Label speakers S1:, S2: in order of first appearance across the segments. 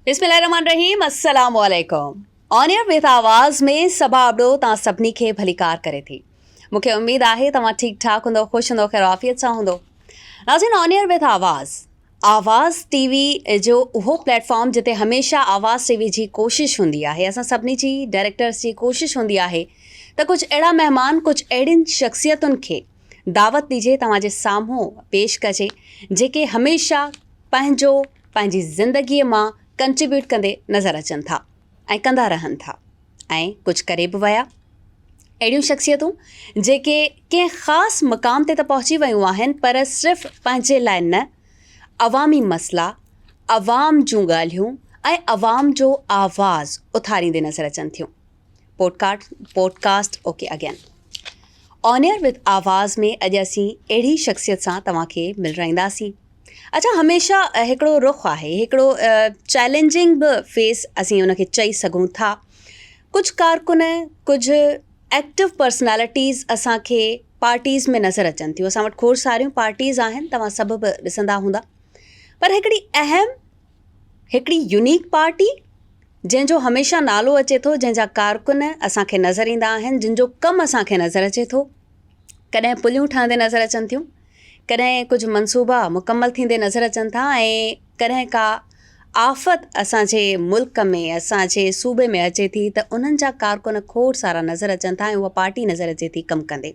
S1: بسم الله الرحمن الرحيم السلام عليڪم آن ايئر وٿ آواز ۾ سڀا ابڙو تان سڀني کي ڀليڪار ڪري ٿي مون کي اميد آهي توهان ٺيڪ ٺاڪ هوندو خوش هوندو خير عافيت سان هوندو ناظرين آن ايئر وٿ آواز آواز ٽي وي جو اهو پليٽ فارم جتي هميشه آواز ٽي وي جي ڪوشش هوندي آهي اسان سڀني جي ڊائريڪٽرس جي ڪوشش هوندي آهي ته ڪجهه اهڙا مهمان ڪجهه اهڙين شخصيتن کي دعوت ڏجي توهان جي سامهون پيش ڪجي جيڪي هميشه پنهنجو پنهنجي زندگي مان ڪنٽريبيوٽ ڪندي نظر اچن ٿا. ۽ ڪندا رهن ٿا ۽ ڪجهه ڪري به ويا اهڙيون شخصيتون جيڪي ڪنهن خاص مقام تي ته پهچي ويون آهن پر صرف پنهنجي لاء نه عوامي مسئلا عوام جون ڳالهيون ۽ عوام جو آواز اٿاريندي نظر اچن ٿيون podcast podcast okay again honour with آواز ۾ اڄ اسين اهڙي شخصيت سان توهان کي ملرائينداسين اچا هميشه هڪڙو رخ آهي هڪڙو چئلينجنگ به فيس اسين ان کي چئي سگهون ٿا ڪجهه ڪارڪن ڪجهه ايڪٽو پرسنالٽيز اسانکي پارٽيز ۾ نظر اچن ٿيون اسان وٽ کوڙ ساريون پارٽيز آهن توهان سڀ به ڏسندا هوندا پر هڪڙي اهم هڪڙي يونيڪ پارٽي جنهن جو هميشه نالو اچي ٿو جنهن جا ڪارڪن اسانکي نظر ايندا آهن جن جو ڪم اسانکي نظر اچي ٿو ڪڏهن پليون ٺهندي نظر اچن ٿيون ڪڏهن ڪجهه منصوبا مڪمل ٿيندي نظر اچن ٿا ۽ ڪڏهن ڪا آفت اسانجي ملڪ ۾ اسانجي صوبي ۾ اچي ٿي ته انهن جا ڪارڪن کوڙ سارا نظر اچن ٿا ۽ اها پارٽي نظر اچي ٿي ڪم ڪندي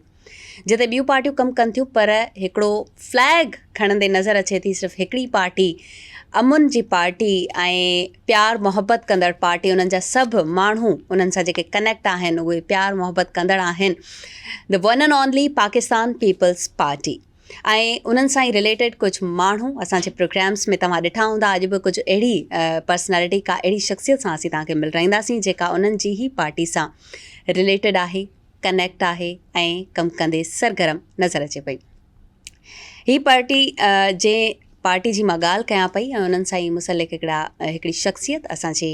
S1: جتي ٻيون پارٽيون ڪم ڪن ٿيون پر هڪڙو فليگ کڻندي نظر اچي ٿي صرف هڪڙي پارٽي امن جي پارٽي ۽ پيار محبت ڪندڙ پارٽي انهن جا سڀ ماڻهو انهن سان جيڪي ڪنيڪٽ آهن اهي پيار محبت ڪندڙ آهن The One and Only Pakistan peoples party ۽ انهن سان ئي رليٽيڊ ڪجهه ماڻهو اسان جي پروگرامز ۾ توهان ڏٺا هوندا اڄ به ڪجهه اهڙي پرسنالٽي ڪا اهڙي شخصيت سان اسين توهان کي ملرائينداسين جيڪا انهن جي ئي پارٽي سان رليٽيڊ آهي ڪنيڪٽ آهي ۽ ڪم ڪندي سرگرم نظر اچي پئي. هي پارٽي جنهن پارٽي جي مان ڳالهه ڪيان پئي ۽ انهن سان ئي مسلڪ هڪڙا هڪڙي شخصيت اسان جي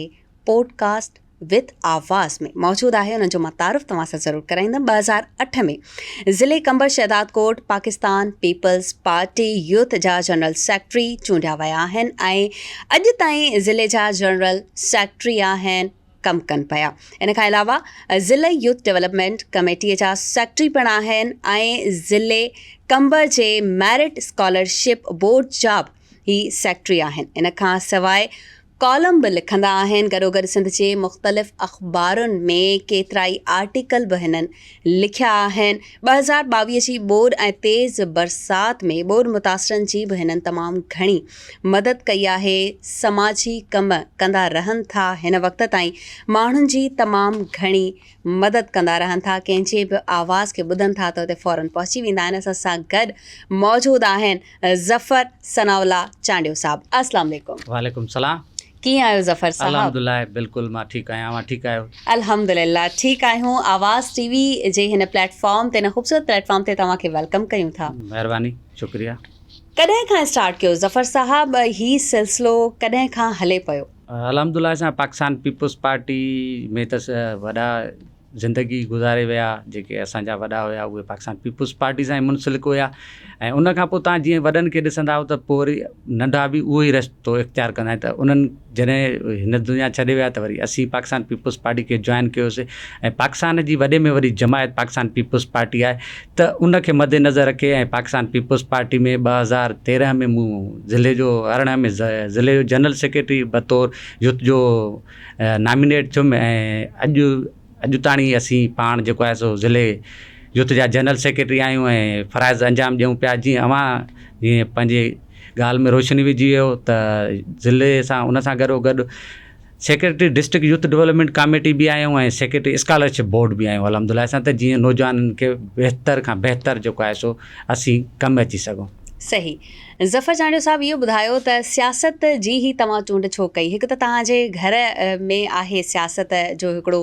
S1: پوڊ ڪاسٽ وٿ آواز ۾ موجود آهي انهن جو مان تعارف توهان سان ضرور ڪرائيندم ٻه هزار اٺ ۾ ضلعي Qambar Shahdadkot Pakistan peoples Party youth جا جنرل سيڪريٽري چونڊيا ويا آهن ۽ اڄ تائين ضلعي جا جنرل سيڪريٽري آهن ڪم ڪن پيا. ان کان علاوه ضلعي يوٿ ڊيولپمينٽ ڪميٽيء جا سيڪريٽري پڻ آهن ۽ ضلعي قمبر جي ميرٽ اسڪالرشپ بورڊ جا به هي سيڪريٽري آهن. ان کان سواء ڪالم به لکندا آهن. گڏوگڏ سنڌ جي مختلف اخبارن ۾ ڪيترائي آرٽيڪل به هنن لکيا آهن، ٻه هزار ٻاويهه جي ٻوڏ ۽ تيز برسات ۾ ٻوڏ متاثرن جي به هنن تمام گهڻي مدد ڪئي آهي، سماجي ڪم ڪندا رهن ٿا، هن وقت تائين ماڻهن جي تمام گهڻي مدد ڪندا رهن ٿا، ڪنهن جي به آواز کي ٻڌن ٿا ته اتي فورن پهچي ويندا آهن، اسان سان گڏ موجود آهن ظفر ثناء الله چانڊيو صاحب، اسلام عليڪم. وعليڪم سلام.
S2: ڪيئن آهيو ظفر
S1: صاحب. الحمدالله بلڪل مان
S2: ٺيڪ آهيان اوهان ٺيڪ آهيو. الحمدالله ٺيڪ
S1: آهيون آواز ٽي وي جي هن پليٽ فارم تي هن خوبصورت پليٽ فارم تي توهان کي ويلڪم ڪيون ٿا. مهرباني شڪريا.
S2: ڪڏهن کان
S1: اسٽارٽ ڪيو ظفر صاحب هي سلسلو ڪڏهن کان هلي پيو. الحمدالله اسان
S2: پاڪستان پيپلز پارٽي ۾ ته وڏا زندگي گذاري ويا جيڪي اسان جا وڏا هيا اهي پاڪستان پيپلز پارٽي سان ئي منسلڪ هيا ۽ ان کان پوء تان جيئن وڏن کي ڏسندا آهيو ته پوء وري ننڍا به اهو ئي رستو اختيار ڪندا آهن ته انهن جڏهن هن دنيا ڇڏي ويا ته وري اسين پاڪستان پيپلز پارٽي کي جوائن ڪيوسي ۽ پاڪستان جي وڏي ۾ وڏي جماعت پاڪستان پيپلز پارٽي آهي ته ان کي مد نظر رکي ۽ پاڪستان پيپلز پارٽي ۾ ٻه هزار تيرنهن ۾ مون ضلعي جو ارڙهن ۾ ضلعي جو جنرل سيڪريٽري بطور يوٿ جو نامينيٽ ٿيم ۽ اڄ اڄ تاڻي اسين پاڻ جيڪو آهي سو ضلعي يوٿ جا جنرل سيڪريٽري آهيون ۽ فرائض انجام ڏيون پيا جيئن اوهان جيئن پنهنجي ڳالهه ۾ روشني وجهي ويو ته ضلعي سان ان سان گڏو گڏ secretary district youth development committee به آهيون ۽ سيڪريٽري اسڪالرشپ بورڊ به آهيون الحمد لله سان ته جيئن نوجوانن کي بهتر کان بهتر جيڪو آهي سو اسين ڪم اچي سگهون صحيح
S1: ظفر چانڊيو صاحب اهو ٻڌايو ته سياست جي هي توهان چونڊ ڇو ڪئي هڪ ته توهان جي گهر ۾ آهي سياست جو هڪڙو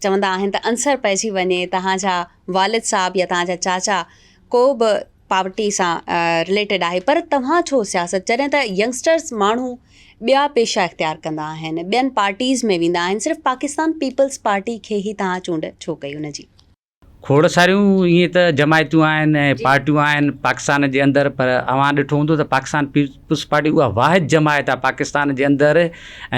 S1: چوندا آهن ته عنصر پئجي وڃي توهان جا والد صاحب يا توهان جا چاچا ڪو به پاورٽي سان رليٽيڊ آهي پر توهان ڇو سياست جڏهن ته ينگسٽرز ماڻهو ٻيا پيشا اختيار ڪندا آهن ٻين پارٽيز ۾ ويندا آهن صرف پاڪستان پيپلز پارٽي کي هي توهان چونڊ ڇو ڪئي ان جي کوڙ
S2: ساريون ائين ته جماعتون آهن ۽ پارٽيون آهن پاڪستان جي اندر پر اوهان ڏٺو هوندو ته پاڪستان پيپلز پارٽي اها واحد جماعت آهي پاڪستان جي اندر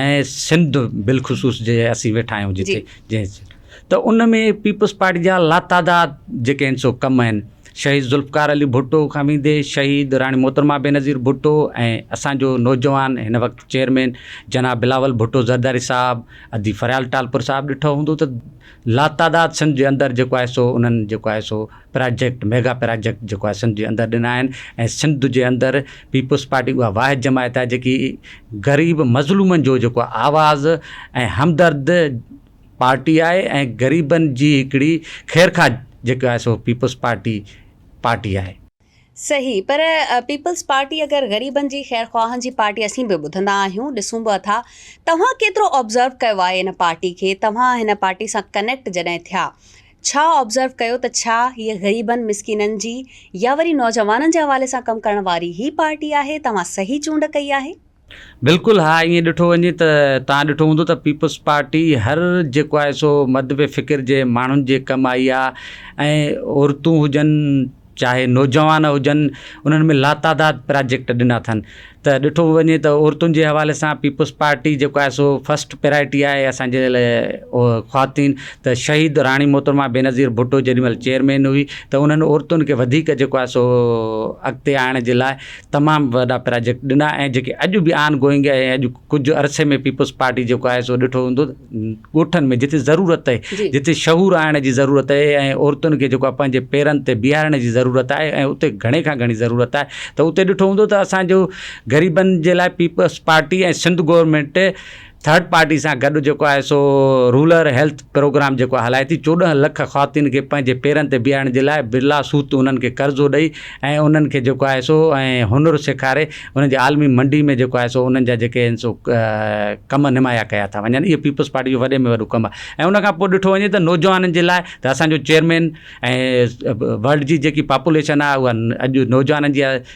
S2: ۽ سنڌ بالخصوص جي اسين ويٺا آهيون جتي جنهن ته ان ۾ پيپلز پارٽي جا لاتعداد جيڪي آهن سو ڪم آهن شهيد ذوالفقار علي ڀٽو کان ويندي شهيد راڻي محترمه بينظير ڀٽو ۽ اسانجو نوجوان هن وقت چيئرمين جناب بلاول ڀٽو زرداري صاحب ادي فريال ٽالپر صاحب ڏٺو هوندو ته لاتعداد سنڌ جي اندر جيڪو آهي سو انهن جيڪو آهي سو پراجيڪٽ ميگا پراجيڪٽ جيڪو آهي سنڌ جي اندر ڏنا آهن ۽ سنڌ جي اندر پيپلز پارٽي اها واحد جماعت آهي جيڪي غريب مظلومن جو جيڪو آواز ۽ همدرد پارٽي آهي ۽ غريبن جي هڪڙي خيرخواهه جيڪا آهي سو پيپلز پارٽي پارٽي آهي. صحيح پر
S1: پيپلز پارٽي اگر غريبن جي خير خواهن جي پارٽي اسين به ٻڌندا آهيون ڏسون به اٿا توهان ڪيترو آبزرو ڪيو آهي ان پارٽي کي توهان هن پارٽي سان ڪنيڪٽ جڏهن ٿيا ڇا آبزرو ڪيو ته ڇا هيء غريبن مسڪينن جي يا وري نوجوانن جي حوالي سان ڪم ڪرڻ واري هي پارٽي آهي توهان صحيح چونڊ ڪئي آهي. بلڪل ها
S2: ائين ڏٺو وڃي ته توهان ڏٺو هوندو ته پيپلز پارٽي هر جيڪو آهي سو مدبي فڪر جي ماڻهن جي ڪم آئي آ ۽ عورتون هجن چاهي نوجوان هجن انهن ۾ لاتعداد پراجيڪٽ ڏنا اٿن ته ڏٺو وڃي ته عورتن جي حوالي سان پيپلز پارٽي جيڪو آهي سو فسٽ پرايرٽي آهي اسان جي لاء خواتين ته شهيد راڻي محترمه بينظير ڀٽو جيڏي مهل چيئرمين هئي ته انهن عورتن کي وڌيڪ جيڪو آهي سو اڳتي آڻڻ جي لاء تمام وڏا پراجيڪٽ ڏنا ۽ جيڪي اڄ به آن گوئنگ آهي ۽ اڄ ڪجهه عرصي ۾ پيپلز پارٽي جيڪو آهي سو ڏٺو ويندو ڳوٺن ۾ جتي ضرورت آهي جي. جتي شعور آڻڻ جي ضرورت آهي ۽ عورتن کي جيڪو آهي پنهنجي پيرن تي بيهارڻ جي ضرورت آهي ۽ اتي گهڻي کان گهڻي ضرورت آهي ته اتي ڏٺو ويندو ته اسان جو غريبن جي لاء peoples party ۽ Sindh government third party سان گڏ جيڪو آهي سو رولر هيلٿ پروگرام جيڪو هلائي ٿي چوڏهن لک خواتين کي پنهنجي پيرن تي بيهارڻ جي لاء برلا سوت انهن کي قرضو ڏئي ۽ انهن کي جيڪو آهي سو هنر سيکاري انهن جي عالمي منڊي ۾ جيڪو آهي سو انهن جا جيڪي آهن سو ڪم نمايا ڪيا ٿا وڃن اهو پيپلز پارٽي جو وڏي ۾ وڏو ڪم آهي ۽ ان کان پوء ڏٺو وڃي ته نوجوانن جي لاء ته اسانجو چيئرمين ۽ ورلڊ جي جيڪي پاپوليشن آهي اها اڄ نوجوانن جي آهي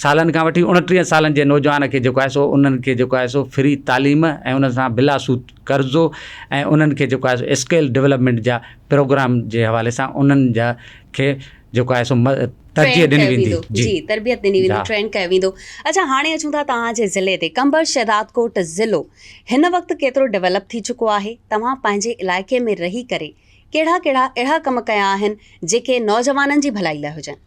S2: سالن کان وٺي اڻٽيهن سالن جي نوجوان کي جيڪو آهي سو انهن کي جيڪو آهي سو فري تعليم ۽ انهن سان بلا سود قرضو ۽ انهن کي جيڪو آهي سو اسڪيل ڊولپمينٽ جا پروگرام جي حوالي سان انهن جا کي جيڪو آهي سو ترجيح ڏني ويندي جي تربيت ڏني
S1: ويندي ٽرين ڪيو ويندو اچا هاڻي اچون ٿا توهان جي ضلعي تي قمبر شهدادڪوٽ ضلعو هن وقت ڪيترو ڊولپ ٿي چڪو آهي توهان پنهنجي علائقي ۾ رهي ڪري ڪهڙا ڪهڙا اهڙا ڪم ڪيا آهن جيڪي نوجوانن جي ڀلائي لاء هجن.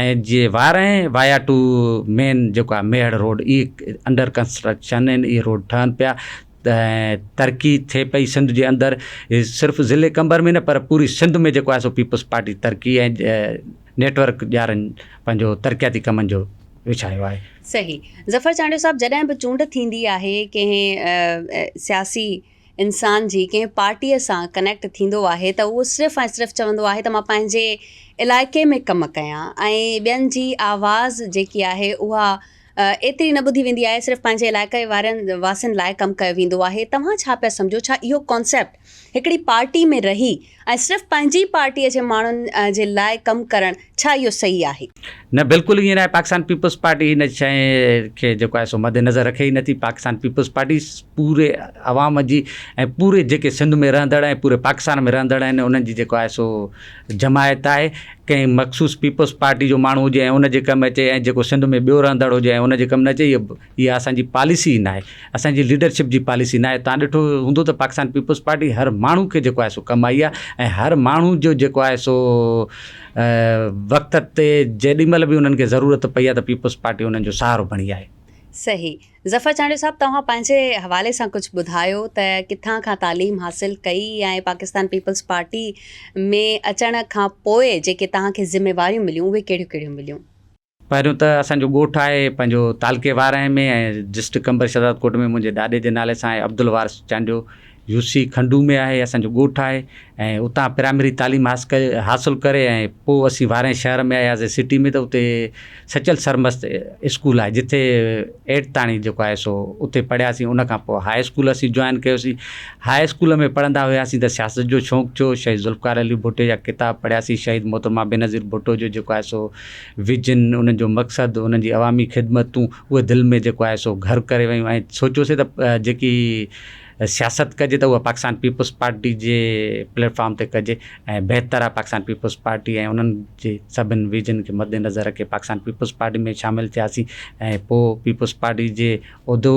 S2: ۽ جي وارهين وايا ٽو مين جيڪو آهي ميهڙ روڊ اهي انڊر ڪنسٽرڪشن آهن اهي روڊ ٺهن پيا ۽ ترقي ٿئي پئي سنڌ جي اندر صرف ضلعي قمبر ۾ نه پر پوري سنڌ ۾ جيڪو آهي سو پيپلز پارٽي ترقي ۽ نيٽورڪ ڄارن پنهنجو ترقياتي ڪمن جو وڇايو آهي. صحيح ظفر
S1: چانڊيو صاحب جڏهن به چونڊ ٿيندي آهي ڪنهن سياسي انسان جي ڪنهن پارٽيء سان ڪنيڪٽ ٿيندو آهي ته اهو صرف ۽ صرف چوندو آهي ته مان پنهنجي علائقي ۾ ڪم ڪيان ۽ ٻين جي آواز جيڪي آهي اها ايتري نه ٻڌي ويندي آهي صرف پنهنجي علائقي وارن واسين لاء ڪم ڪيو ويندو آهي توهان ڇا پيا سمجهو ڇا اهو ڪانسيپٽ هڪڙي پارٽي ۾ رهي ۽ صرف پنهنجي پارٽي جي ماڻهن جي لاء ڪم ڪرڻ ڇا اهو صحيح آهي؟ نه بلڪل ائين
S2: ناهي پاڪستان پيپلز پارٽي هن شئي کي جيڪو آهي سو مد نظر رکي ئي نٿي پاڪستان پيپلز پارٽي پوري عوام جي ۽ پوري جيڪي سنڌ ۾ رهندڙ ۽ پوري پاڪستان ۾ رهندڙ آهن انهن جي جيڪو آهي سو جماعت آهي ڪنهن مخصوص پيپلز پارٽي جو ماڻهو هجي ۽ ان جي ڪم اچي ۽ جيڪو سنڌ ۾ ٻيو رهندڙ هجي ۽ ان جي ڪم نه اچي اها اسان جي پاليسي ئي ناهي، اسان جي ليڊرشپ جي پاليسي ناهي، توهان ڏٺو هوندو ته پاڪستان پيپلز پارٽي هر ماڻهو کي جيڪو آهي سو ڪم آئي آهي ۽ هر ماڻهو جو جيڪو آهي سو وقت تي جيڏي مهل به انهن کي ضرورت پئي آهي ته پيپلز پارٽي انهن جو سهارو بڻي آهي. صحيح
S1: ظفر چانڊيو صاحب توهان پنهنجي حوالي سان ڪجهه ٻڌايو ته ڪٿان کان تعليم حاصل ڪئي ۽ پاڪستان پيپلز پارٽي ۾ اچڻ کان پوء جيڪي توهان کي ذميواريون مليون اهي ڪهڙيون ڪهڙيون مليون.
S2: پهريون ته اسان جو ڳوٺ آهي پنهنجو تعلقي وارانهين ۾ ۽ ڊسٽرڪٽ قمبر شهزادڪوٽ ۾ منهنجي ڏاڏي جي نالي سان آهي عبدالوارث چانڊيو يو سي کنڊو ۾ آهي اسان جو ڳوٺ آهي ۽ اتان پرائمري تعليم حاصل ڪري ۽ پوء اسين وارانهين شهر ۾ آياسين سٽي ۾ ته اتي سچل سرمست اسڪول آهي جتي ايٽ تائين جيڪو آهي سو اتي پڙهياسين ان کان پوء هاء اسڪول اسين جوائن ڪيوسين هاء اسڪول ۾ پڙهندا هياسين ته سياست جو شوق ٿيو شهيد ذوالفقار علي ڀٽي جا ڪتاب پڙهياسين شهيد محترمه بينظير ڀٽو جو جيڪو آهي سو ويجهن انهن جو مقصد، انهن جي عوامي خدمتون اهي دل ۾ جيڪو آهي سو گهر ڪري ويون ۽ سوچيوسين ته جيڪي سياست ڪجي ته اها پاڪستان پيپلز پارٽي جي پليٽ فارم تي ڪجي ۽ بهتر آهي پاڪستان پيپلز پارٽي ۽ انهن جي سڀني ويجهن کي مد نظر رکي پاڪستان پيپلز پارٽي ۾ شامل ٿياسين ۽ پوء پيپلز پارٽي جي عهدو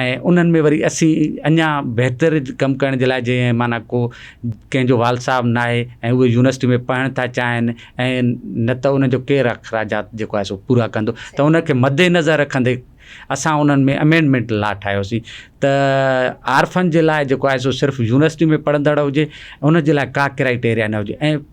S2: ۽ انهن ۾ وري اسين اڃا بهتر ڪم ڪرڻ جي لاء جيئن معنيٰ ڪو ڪنهن جو وال صاحب نه آهي ۽ اهي يونيورسٽي ۾ پڙهڻ ٿا چاهين ۽ نه ته انهن جو ڪير اخراجات جيڪو آهي سو پورا ڪندو ته ان کي مد نظر رکندي اسان انهن ۾ امينڊمينٽ لا ٺاهيوسين ته عارفن جي لاء جيڪو آهي سو صرف يونيورسٽي ۾ پڙهندڙ هجي ان جي لاء ڪا ڪرائيٽيريا نه هجي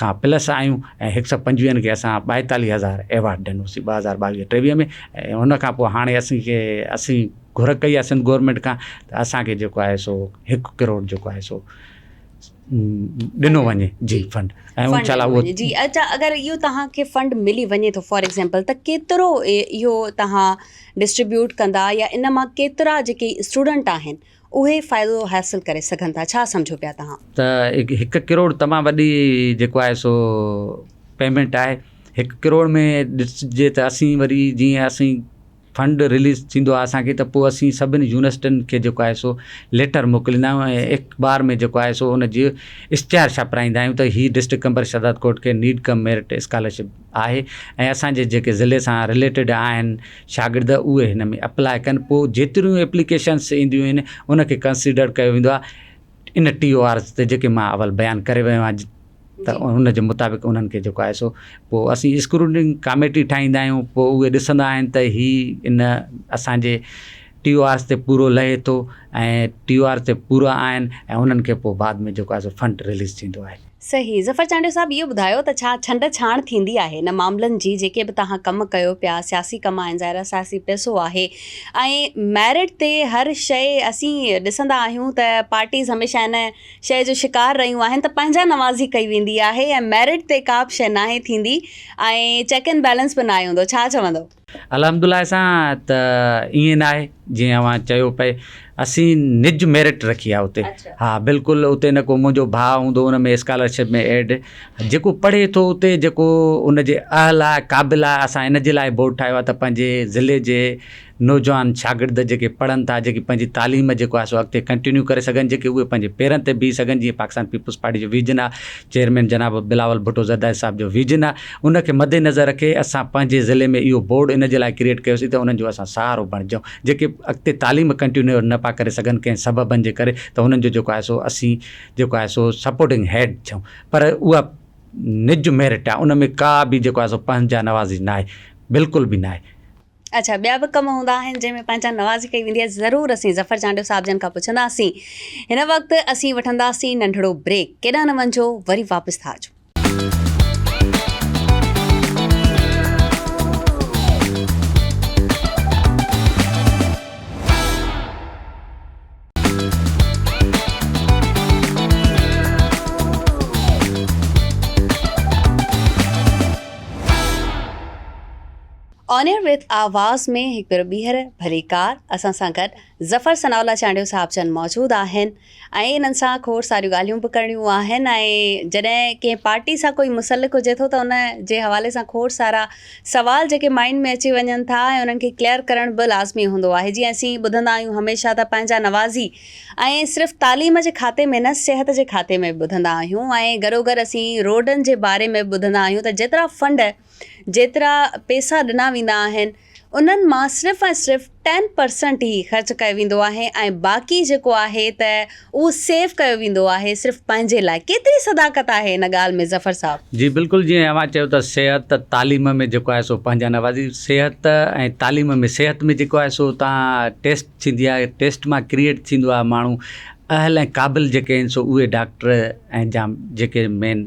S2: کان پلس آيون ۽ هڪ سئو پنجويهن کي اسان ٻائيتاليهه هزار ايوارڊ ڏنوسين ٻه هزار ٻاويهه ٽيويهه ۾ ۽ ان کان پوء هاڻي اسين کي اسين گهر ڪئي آهي سنڌ گورمينٽ کان ته اسان کي جيڪو آهي سو هڪ ڪروڙ جيڪو آهي سو ڏنو وڃي جي فنڊ ۽ ان شاء الله جي اچا اگر اهو
S1: توهان کي فنڊ ملي وڃي ٿو فار ايگزامپل ته ڪيترو اهو توهان ڊسٽريبيوٽ ڪندا يا ان مان ڪيترا جيڪي اسٽوڊنٽ آهن اهي فائدو حاصل ڪري سگهن ٿا ڇا سمجهو پيا توهان. ته هڪ ڪروڙ
S2: تمام وڏي جيڪو آهي سو پيمنٽ آهي هڪ ڪروڙ ۾ ڏسجي ته اسين وري جيئن اسين فنڊ رليز ٿيندو آهي اسان کي ته پوء اسين سڀني يونيورسٽين کي جيڪو آهي سو ليٽر موڪليندا آهيون ۽ اخبار ۾ جيڪو آهي سو ان جي اشتهار ڇپرائيندا آهيون ته هي ڊسٽرڪٽ ڪمبر شهدادڪوٽ کي نيڊ ڪم ميرٽ اسڪالرشپ آهي ۽ اسان جي جيڪي ضلعي سان رليٽيڊ آهن شاگرد اهي هن ۾ اپلاء ڪن پوء جيتريون اپليڪيشنس اينديون آهن ان کي ڪنسيڊر ڪيو ويندو آهي ان ٽي او آرز تي جيڪي مان اول بيان ڪري ويو آهيان ته ان جي مطابق انهن کي جيڪو آهي سو پوء اسين اسڪروننگ ڪاميٽي ٺاهيندا آهيون پوء اهي ڏسندا آهن ته هي ان اسان جي ٽيو آرس تي پورو لهي ٿو ۽ ٽيو آر تي پورا آهن ۽ انهن کي پوء بعد ۾ جيڪو آهي سو فنڊ رليز ٿيندو آهي. صحيح ظفر چانڊيو
S1: صاحب اهو ٻڌايو ته ڇا ڇنڊ ڇاڻ ٿيندي آهي ان معاملن جي جيڪي به توهان ڪم ڪيو پيا سياسي ڪم آهن ظاهر آهي سياسي پئسو آهي ۽ ميرٽ تي هر شيء اسين ڏسندا آهيون ته پارٽيز هميشه ان شيء جو شڪار رهيون آهن ته پنهنجا نوازي ڪئي ويندي آهي ۽ ميرٽ تي ڪا به شيء ناهي ٿيندي ۽ چيڪ اينڊ بيلنس به ناهي هوندو ڇا چوندو. الحمدالله سان
S2: ته ائين ناهي جيئن اوهان چيو پئي اسين نج ميرٽ رکي آهي اتي ها بلڪل اتي نه ڪو منهنجو ڀاء هوندو ان ۾ اسڪالرشپ ۾ ايڊ جيڪو پڙهي ٿو اتي جيڪو ان جي اهل آهي قابل آهي اسان ان جي لاء بورڊ ٺاهيو آهي ته پنهنجي ضلعي جي نوجوان شاگرد جيڪي پڙهن ٿا جيڪي پنهنجي تعليم جيڪو آهي سو اڳتي ڪنٽينيو ڪري سگهن جيڪي اهي پنهنجي پيرن تي بيهي سگهن جيئن پاڪستان پيپلز پارٽي جو ويزن آهي چيئرمين جناب بلاول ڀٽو زرداري صاحب جو ويزن آهي ان کي مدنظر رکي اسان پنهنجي ضلعي ۾ اهو بورڊ ان جي لاء ڪريئيٽ ڪيوسين ته انهن جو اسان سهارو بڻجون جيڪي اڳتي تعليم ڪنٽينيو نه پيا ڪري سگهن ڪنهن سببن جي ڪري ته انهن جو جيڪو آهي سو اسين جيڪو آهي سو سپورٽنگ هيڊ ڇون پر اها نج ميرٽ آهي ان ۾ ڪا به جيڪو آهي سو پنهنجا نوازي ناهي بلڪل به ناهي. اچا
S1: ٻيا به ڪم هوندا آهن جنهن ۾ پنهنجا نوازي ڪئي ويندي آهي ضرور اسين ظفر چانڊيو صاحب جن کان پڇنداسين هن وقت اسين وٺنداسين ننڍڙو بريڪ ڪيڏانهن نه وڃجو وري واپس ٿا اچون. آن ايئر وٿ آواز ۾ هڪ ڀيرو ٻيهر ڀليڪار اسان سان گڏ ظفر ثناء الله چانڊيو صاحب جن موجود آهن ۽ انهن سان کوڙ ساريون ڳالهيون به ڪرڻيون آهن ۽ جڏهن ڪنهن پارٽي سان ڪوئي مسلڪ هجي ٿو ته ان جي حوالي سان کوڙ سارا سوال جيڪي مائينڊ ۾ اچي وڃن ٿا ۽ انهن کي ڪليئر ڪرڻ به لازمي هوندو آهي جيئن اسين ٻڌندا آهيون هميشه ته پنهنجا نوازي ۽ صرف تعليم جي کاتي ۾ نه صحت جي کاتي ۾ به ٻڌندا آهيون ۽ گڏوگڏ اسين روڊن جي باري ۾ به ٻڌندا آهيون ته جيترا فنڊ جيترا پيسا ڏنا ويندا آهن انهن مان صرف ۽ صرف ٽين پرسنٽ ئي خرچ ڪيو ويندو آهي ۽ باقي جيڪو آهي ته اهو سيو ڪيو ويندو آهي صرف پنهنجي لاء ڪيتري صداقت آهي ان ڳالهه ۾ ظفر صاحب. جي بلڪل جيئن اوهان
S2: چيو ته صحت تعليم ۾ جيڪو آهي سو پنهنجا نوازي صحت ۽ تعليم ۾ صحت ۾ جيڪو آهي سو اتان ٽيسٽ ٿيندي آهي ٽيسٽ مان ڪريئيٽ ٿيندو آهي ماڻهو اهل ۽ قابل جيڪي آهن سو اهي ڊاڪٽر ۽ جا جيڪي مين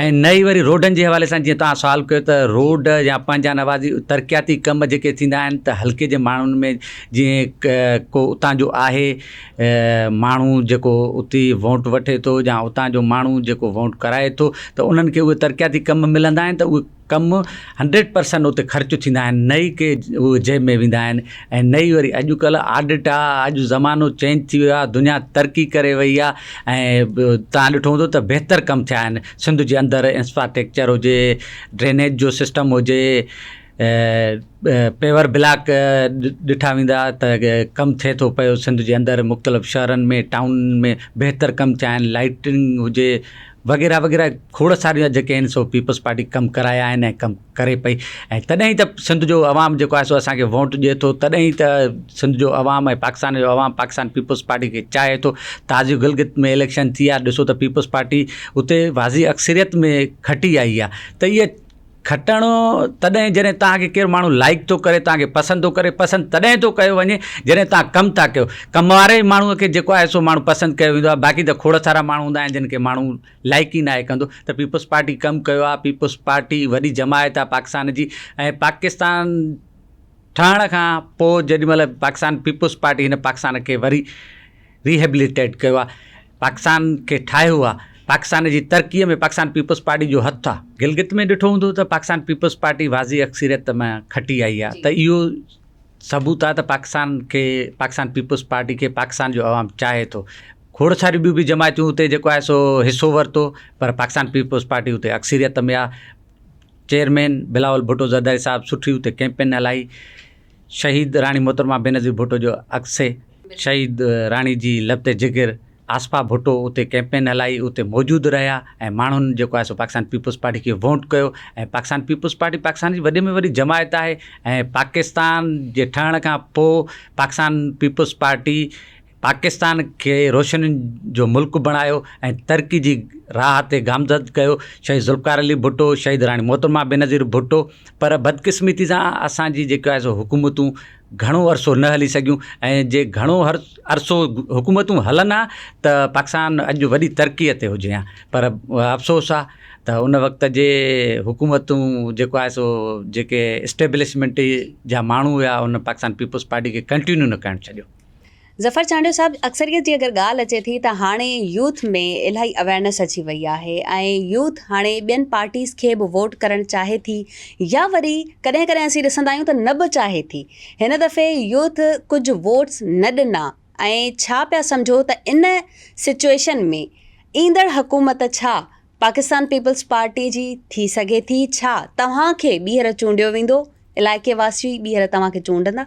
S2: ۽ نه ئي وري روڊن جي حوالي سان جيئن توهان سوال ڪيو ته روڊ يا پنهنجا نوازي ترقياتي ڪم جيڪي ٿيندا آهن ته حلقي جي ماڻهن ۾ جيئن ڪو اتان جو آهي ماڻهو جيڪو اتي ووٽ وٺي ٿو يا اتان جو ماڻهو جيڪو ووٽ ڪرائي ٿو ته انهن کي اهي ترقياتي ڪم ملندا آهن ته اهي ڪم هنڊريڊ پرسنٽ اتي خرچ ٿيندا آهن نه ئي ڪي اهي جيب ۾ ويندا آهن ۽ نه ئي وري اڄڪلهه آڊٽ آ اڄ زمانو چينج ٿي ويو آهي دنيا ترقي ڪري وئي آ ۽ ٻيو تان ڏٺو هوندو ته بهتر ڪم ٿيا آهن سنڌ جي اندر انسفاٽيڪچر هجي ڊرينيج جو سسٽم هجي پيور بلاڪ ڏٺا ويندا ته ڪم ٿئي ٿو پيو سنڌ جي اندر مختلف شهرن ۾ ٽائون ۾ بهتر ڪم ٿيا آهن لائٽنگ هجي وغيره وغيره کوڙ ساريون جيڪي آهن سو پيپلز پارٽي ڪم ڪرايا آهن ۽ ڪم ڪري پئي ۽ تڏهن ئي ته سنڌ جو عوام جيڪو آهي سو اسانکي ووٽ ڏئي ٿو تڏهن ئي ته سنڌ جو عوام ۽ پاڪستان جو عوام پاڪستان پيپلز پارٽي کي چاهي ٿو تازي گلگت ۾ اليڪشن ٿي آهي ڏسو ته پيپلز پارٽي اتي واضح اڪثريت ۾ کٽي آئي آهي ته اهي کٽڻ تڏهن جڏهن توهان کي ڪير ماڻهو لائيڪ ٿو ڪري توهان کي پسند ٿو ڪري پسند تڏهن ٿو ڪيو وڃي جڏهن توهان ڪم ٿا ڪيو ڪم واري ماڻهو کي جيڪو آهي سو ماڻهو پسند ڪيو ويندو آهي باقي ته کوڙ سارا ماڻهو هوندا آهن جن کي ماڻهو لائيڪ ئي ناهي ڪندو ته پيپلز پارٽي ڪم ڪيو آهي پيپلز پارٽي وڏي جماعت آهي پاڪستان جي ۽ پاڪستان ٺهڻ کان پوء جيڏي مهل پاڪستان پيپلز پارٽي هن پاڪستان کي وري ريهيبليٽيٽ ڪيو آ پاڪستان کي ٺاهيو آ پاڪستان جي ترقي ۾ پاڪستان پيپلز پارٽي جو هٿ آ گلگت ۾ ڏٺو هوندو ته پاڪستان پيپلز پارٽي واضح اڪثريت مان کٽي آئي آ ته اهو ثبوت آ ته پاڪستان کي پاڪستان پيپلز پارٽي کي پاڪستان جو عوام چاهي ٿو کوڙ ساريون ٻيون به جماعتون اتي جيڪو آهي سو حصو ورتو پر پاڪستان پيپلز پارٽي اتي اڪثريت ۾ آ چيئرمين بلاول ڀٽو زرداري صاحب سٺي اتي ڪيمپين هلائي شهيد راڻي محترمه بينظير ڀٽو جو عڪس. شهيد راڻي جي لت جگر آصفه ڀٽو اتي ڪئمپين هلائي اتي موجود رهيا ۽ ماڻهن جيڪو آهي سو پاڪستان پيپلز پارٽي کي وونٽ ڪيو ۽ پاڪستان پيپلز پارٽي پاڪستان جي وڏي ۾ وڏي جماعت آهي ۽ پاڪستان جي ٺهڻ کان پوء پاڪستان پيپلز پارٽي پاڪستان کي روشنين جو ملڪ بڻايو ۽ ترقي جي راهه تي گامزد ڪيو شهيد ذوالفقار علي ڀٽو شهيد راڻي محترمه بينظير ڀٽو پر بدقسمتي سان اسان جي جيڪا سو حڪومتون گهڻو عرصو نه هلي سگهيون ۽ جي گهڻو عرصو حڪومتون هلن ها ته پاڪستان اڄ وڏي ترقي تي هجي ها پر افسوس آ ته ان وقت جي حڪومتون جيڪو آهي سو جيڪي اسٽيبلشمينٽ جا ماڻهو هيا ان پاڪستان پيپلز پارٽي کي ڪنٽينيو نه ڪرڻ ڇڏيو ظفر چانڊيو
S1: صاحب اڪثريت جي اگر ڳالهه اچي ٿي ته هاڻي يوٿ ۾ الاهي اويرنس اچي وئي آهي ۽ يوٿ هاڻي ٻين پارٽيز کي به ووٽ ڪرڻ چاهي ٿي يا وري ڪڏهن ڪڏهن اسين ڏسندا آهيون ته نه به چاهي ٿي هن دفعي يوٿ ڪجهه ووٽس نه ڏنا ۽ ڇا پيا سمجهو ته ان سچويشن ۾ ايندڙ حڪومت ڇا پاڪستان پيپلز پارٽي جي ٿي سگهي ٿي ڇا توهان کي ٻيهر چونڊيو ويندو علائقي واسي ٻيهر توهان کي چونڊندا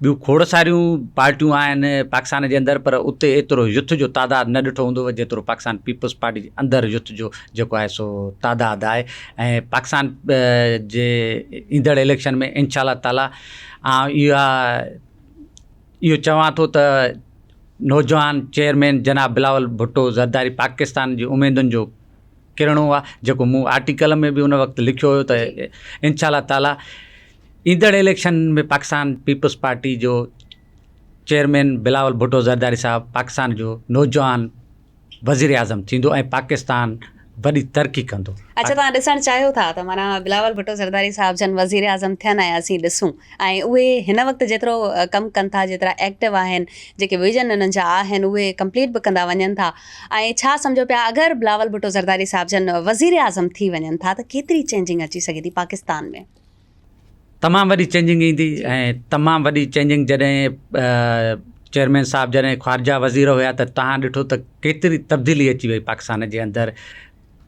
S2: ٻيون کوڙ ساريون پارٽيون آهن پاڪستان جي اندر پر اتي ايترو يوٿ جو تعداد نه ڏٺو هوندو جيترو پاڪستان پيپلز پارٽي جي اندر يوٿ جو جيڪو آهي سو تعداد آهي ۽ پاڪستان جي ايندڙ اليڪشن ۾ انشاء الله تعالٰي آئون اها اهو چوان ٿو ته نوجوان چيئرمين جناب بلاول ڀٽو زرداري پاڪستان جي اميدن جو ڪرڻو آهي جيڪو مون آرٽيڪل ۾ به ان وقت لکيو هيو ته انشاء الله تعالٰي ايندڙ اليڪشن ۾ پاڪستان پيپلز پارٽي جو چيئرمين بلاول ڀٽو زرداري صاحب پاڪستان جو نوجوان وزيراعظم ٿيندو ۽ پاڪستان وڏي ترقي ڪندو. اچا توهان ڏسڻ چاهيو
S1: ٿا ته معنيٰ بلاول ڀٽو زرداري صاحب جن وزيراعظم ٿين ۽ اسين ڏسون ۽ اهي هن وقت جيترو ڪم ڪن ٿا جيترا ايڪٽو آهن جيڪي ويزن انهن جا آهن اهي ڪمپليٽ به ڪندا وڃن ٿا ۽ ڇا سمجهو پيا اگر بلاول ڀٽو زرداري صاحب جن وزيراعظم ٿي وڃن ٿا ته ڪيتري چينجنگ اچي سگهي ٿي پاڪستان ۾. تمام
S2: وڏي چينجنگ ايندي ۽ تمام وڏي چينجنگ جڏهن چيئرمين صاحب جڏهن خارجا وزير هيا ته تهان ڏٺو ته ڪيتري تبديلي اچي وئي پاڪستان جي اندر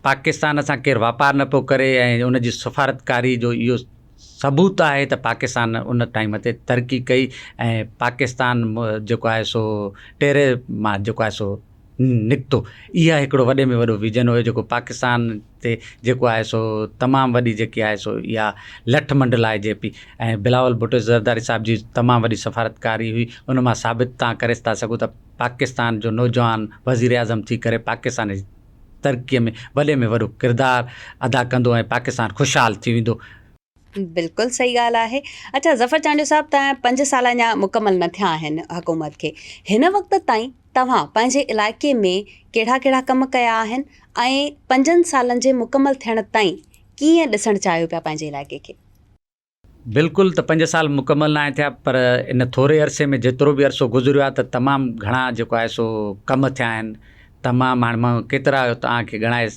S2: پاڪستان سان ڪير واپار نه پيو ڪري ۽ ان جي سفارتڪاري جو اهو ثبوت آهي ته پاڪستان ان ٽائيم تي ترقي ڪئي ۽ پاڪستان جيڪو آهي سو ٽيري مان جيڪو آهي سو نڪتو اها هڪڙو وڏي ۾ وڏو ويزن هيو جيڪو پاڪستان تي جيڪو آهي سو تمام وڏي جيڪي آهي سو اها لٺ منڊلائجي پئي ۽ بلاول ڀٽو زرداري صاحب جي تمام وڏي سفارتڪاري هئي ان مان ثابت تان ڪري ٿا سگهو ته پاڪستان جو نوجوان وزيراعظم ٿي ڪري پاڪستان جي ترقي ۾ وڏي ۾ وڏو ڪردار ادا ڪندو ۽ پاڪستان خوشحال ٿي ويندو. بلڪل
S1: صحيح ڳالهه آهي اڇا ظفر چانڊيو صاحب ته پنج سال اڃا مڪمل نه ٿيا آهن حڪومت کي هن وقت تائين توهان پنهنجي علائقي ۾ ڪهڙا ڪهڙا ڪم ڪيا آهن ۽ پنجن سالن جي مڪمل ٿيڻ تائين ڪيئن ڏسڻ چاهيو پيا پنهنجي علائقي کي. بلڪل
S2: ته پنج سال مڪمل ناهن ٿيا پر ان ٿوري عرصي ۾ جيترو به عرصو گذريو آهي ته تمام گهڻا جيڪو آهي سو ڪم ٿيا آهن تمام هاڻي مان ڪيترا توهان کي ڳڻائي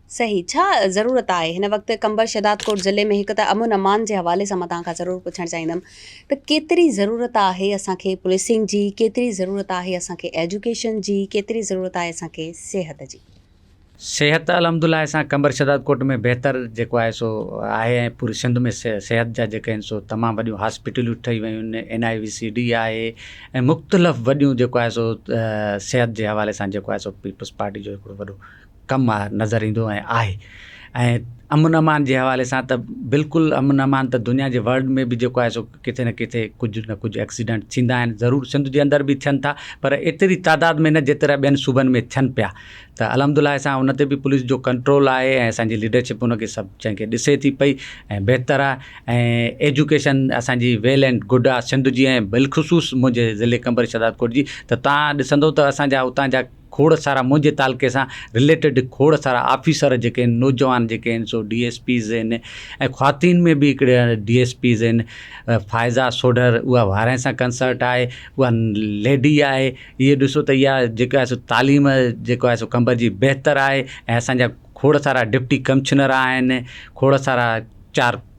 S2: صحيح ڇا
S1: ضرورت آهي هن وقت قمبر شهداد ڪوٽ ضلعي ۾ هڪ ته امن امان جي حوالي سان مان توهان کان ضرور پڇڻ چاهيندم ته ڪيتري ضرورت آهي اسان کي پوليسنگ جي ڪيتري ضرورت آهي اسان کي ايجوڪيشن جي ڪيتري ضرورت آهي اسان کي صحت جي. صحت ته
S2: الحمد لله اسان قمبر شهداد ڪوٽ ۾ بهتر جيڪو آهي سو آهي ۽ پوري سنڌ ۾ صحت جا جيڪي آهن سو تمام وڏيون هاسپيٽلون ٺهي ويون آهن N I C V D آهي ۽ مختلف وڏيون جيڪو آهي سو صحت جي حوالي سان جيڪو آهي سو پيپلز پارٽي جو هڪڙو وڏو ڪم نظر ايندو ۽ آهي ۽ امن امان جي حوالي سان ته بلڪل امن امان ته دنيا جي ورلڊ ۾ به جيڪو آهي سو ڪٿي نه ڪٿي ڪجهه نه ڪجهه ايڪسيڊنٽ ٿيندا آهن ضرور سنڌ جي اندر به ٿين ٿا پر ايتري تعداد ۾ نه جيترا ٻين صوبن ۾ ٿين پيا ته الحمد لله سان ان تي به پوليس جو ڪنٽرول آهي ۽ اسانجي ليڊرشپ ان کي سڀ شين کي ڏسي ٿي پئي ۽ بهتر آهي ۽ ايجوڪيشن اسانجي ويل اينڊ گڊ آهي سنڌ جي ۽ بلخصوص منهنجي ضلعي قمبر شهدادڪوٽ جي ته تان ڏسندو ته اسانجا اتان جا کوڙ سارا منهنجي تعلقي سان رليٽيڊ کوڙ سارا آفيسر جيڪي آهن نوجوان جيڪي آهن سو ڊي ايس پيز آهن ۽ خواتين ۾ به هڪڙي ڊي ايس پيز آهن فائزا سوڍر اها وارهين سان ڪنسرٽ آهي اها ليڊي آهي هي ڏسو ته اها جيڪا آهي سو تعليم جيڪو آهي سو کنڀر جي بهتر آهي ۽ اسان جا کوڙ سارا ڊپٽي ڪمشنر آهن کوڙ سارا چار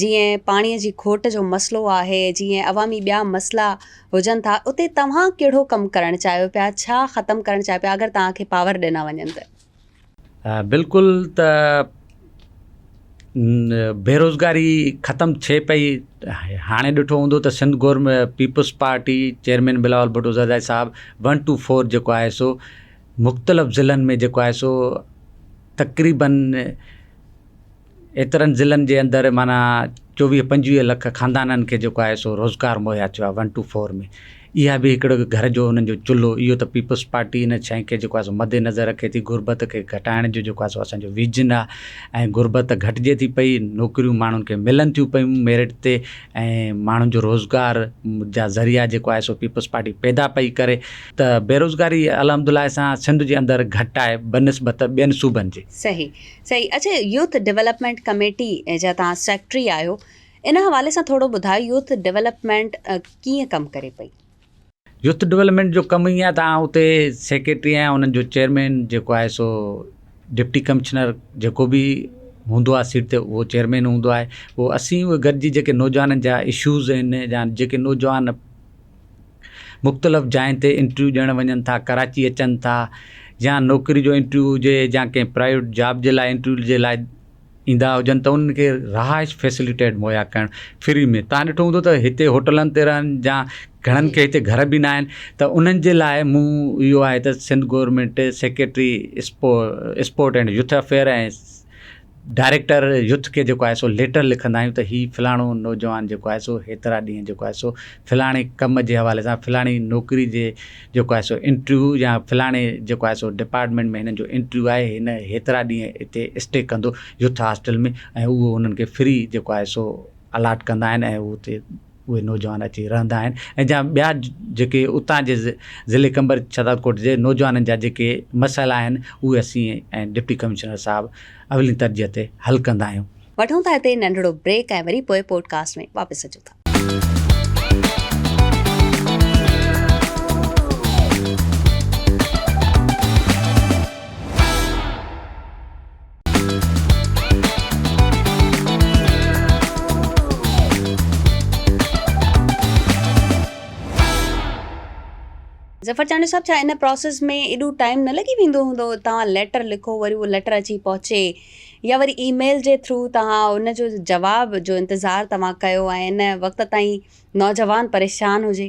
S1: جيئن پاڻي جي کوٽ جو مسئلو آهي، جيئن عوامي ٻيا مسئلا هجن ٿا، اتي توهان ڪهڙو ڪم ڪرڻ چاهيو پيا، ڇا ختم ڪرڻ چاهيو پيا اگر توهان کي پاور ڏنا وڃن ته؟
S2: بلڪل ته بيروزگاري ختم ٿئي پئي، هاڻي ڏٺو هوندو ته سنڌ گورم پيپلز پارٽي چيئرمين بلاول ڀٽو زرداري صاحب ون ٽو فور جيڪو آهي سو مختلف ضلعن ۾ جيڪو آهي سو تقريبن ايترن ضلعن جي اندر معنيٰ چوويهه پنجويهه لک خاندانن کي جيڪو آهي سو روزگار مهيا ٿيو آهي ون ٽو فور ۾ اها به هڪڙو گهر جو انهن جو چلهو اهو ته پيپلز پارٽي ان شئي کي جيڪو آهي سو مد نظر رکي ٿي غربت کي گهٽائڻ جو جيڪو آهي سو اسانجو ويزن آهي ۽ غربت گهٽجي ٿي پئي نوڪريون ماڻهن کي ملن ٿيون پيون ميرٽ تي ۽ ماڻهن جو روزگار جا ذريعا جيڪو آهي سو پيپلز پارٽي پيدا پئي ڪري ته بيروزگاري الحمدالله سان سنڌ جي اندر گهٽ آهي بنسبت ٻين صوبن جي. صحيح صحيح
S1: اڇا يوٿ ڊولپمينٽ ڪميٽي جا توهان سيڪريٽري آهيو ان حوالي سان ٿورو ٻڌايو يوٿ ڊولپمينٽ ڪيئن ڪم ڪري پئي. يوٿ
S2: ڊولپمينٽ جو ڪم ائين آهي ته آئون اتي سيڪريٽري آهيان انهن جو چيئرمين جيڪو آهي سو ڊپٽي ڪمشنر جيڪو به هوندو آهي سيٽ تي اهو چيئرمين هوندو آهي پوء اسين اهي گڏجي جيڪي نوجوانن جا اشوز آهن يا جيڪي نوجوان مختلف جاين تي انٽرويو ڏيڻ وڃن ٿا ڪراچي اچن ٿا يا نوڪري جو انٽرويو هجي يا ڪنهن پرائيويٽ جاب جي لاء انٽرويو جي لاء ايندا هجن ته انهن کي رهائش فيسليٽيٽ مهيا ڪرڻ فري ۾ تان ڏٺو هوندو ته هتي هوٽلن تي رهن يا گهڻن کي هتي گهر به نه آهن ته انهن جي لاء مون اهو آهي ته سنڌ گورنمينٽ سيڪريٽري اسپو sport and youth affair ۽ director youth کي جيڪو آهي سو ليٽر لکندا آهيون ته هي فلاڻو نوجوان جيڪو آهي سو هيترا ڏينهن جيڪو آهي سو فلاڻي ڪم جي حوالي سان فلاڻي نوڪري جي جيڪو آهي سو انٽرويو يا فلاڻي جيڪو آهي سو ڊپارٽمينٽ ۾ هنن جو انٽرويو آهي هن هيترا ڏينهن اتي اسٽي ڪندو يوٿ هاسٽل ۾ ۽ اهو هنن کي فري جيڪو آهي سو الاٽ ڪندا آهن ۽ هو اتي اهي نوجوان اچي رهندا آهن ۽ جا ٻيا جيڪي اتان جي ضلعي قمبر ڇترڪوٽ جي نوجوانن جا جيڪي مسئلا آهن اهي اسين ۽ ڊپٽي ڪمشنر صاحب اولين ترجيح تي حل ڪندا آهيون. وٺون ٿا هتي ننڍڙو
S1: بريڪ ۽ وري پوء پوڊڪاسٽ ۾ واپس اچون ٿا. ظفر چانڊيو صاحب ڇا ان پروسيس ۾ ايڏو ٽائيم نه لڳي ويندو هوندو توهان ليٽر لکو وري اهو ليٽر اچي پهچي يا وري اي ميل جي ٿرو توهان ان جو جواب جو انتظار توهان ڪيو ۽ ان وقت تائين نوجوان پريشان هجي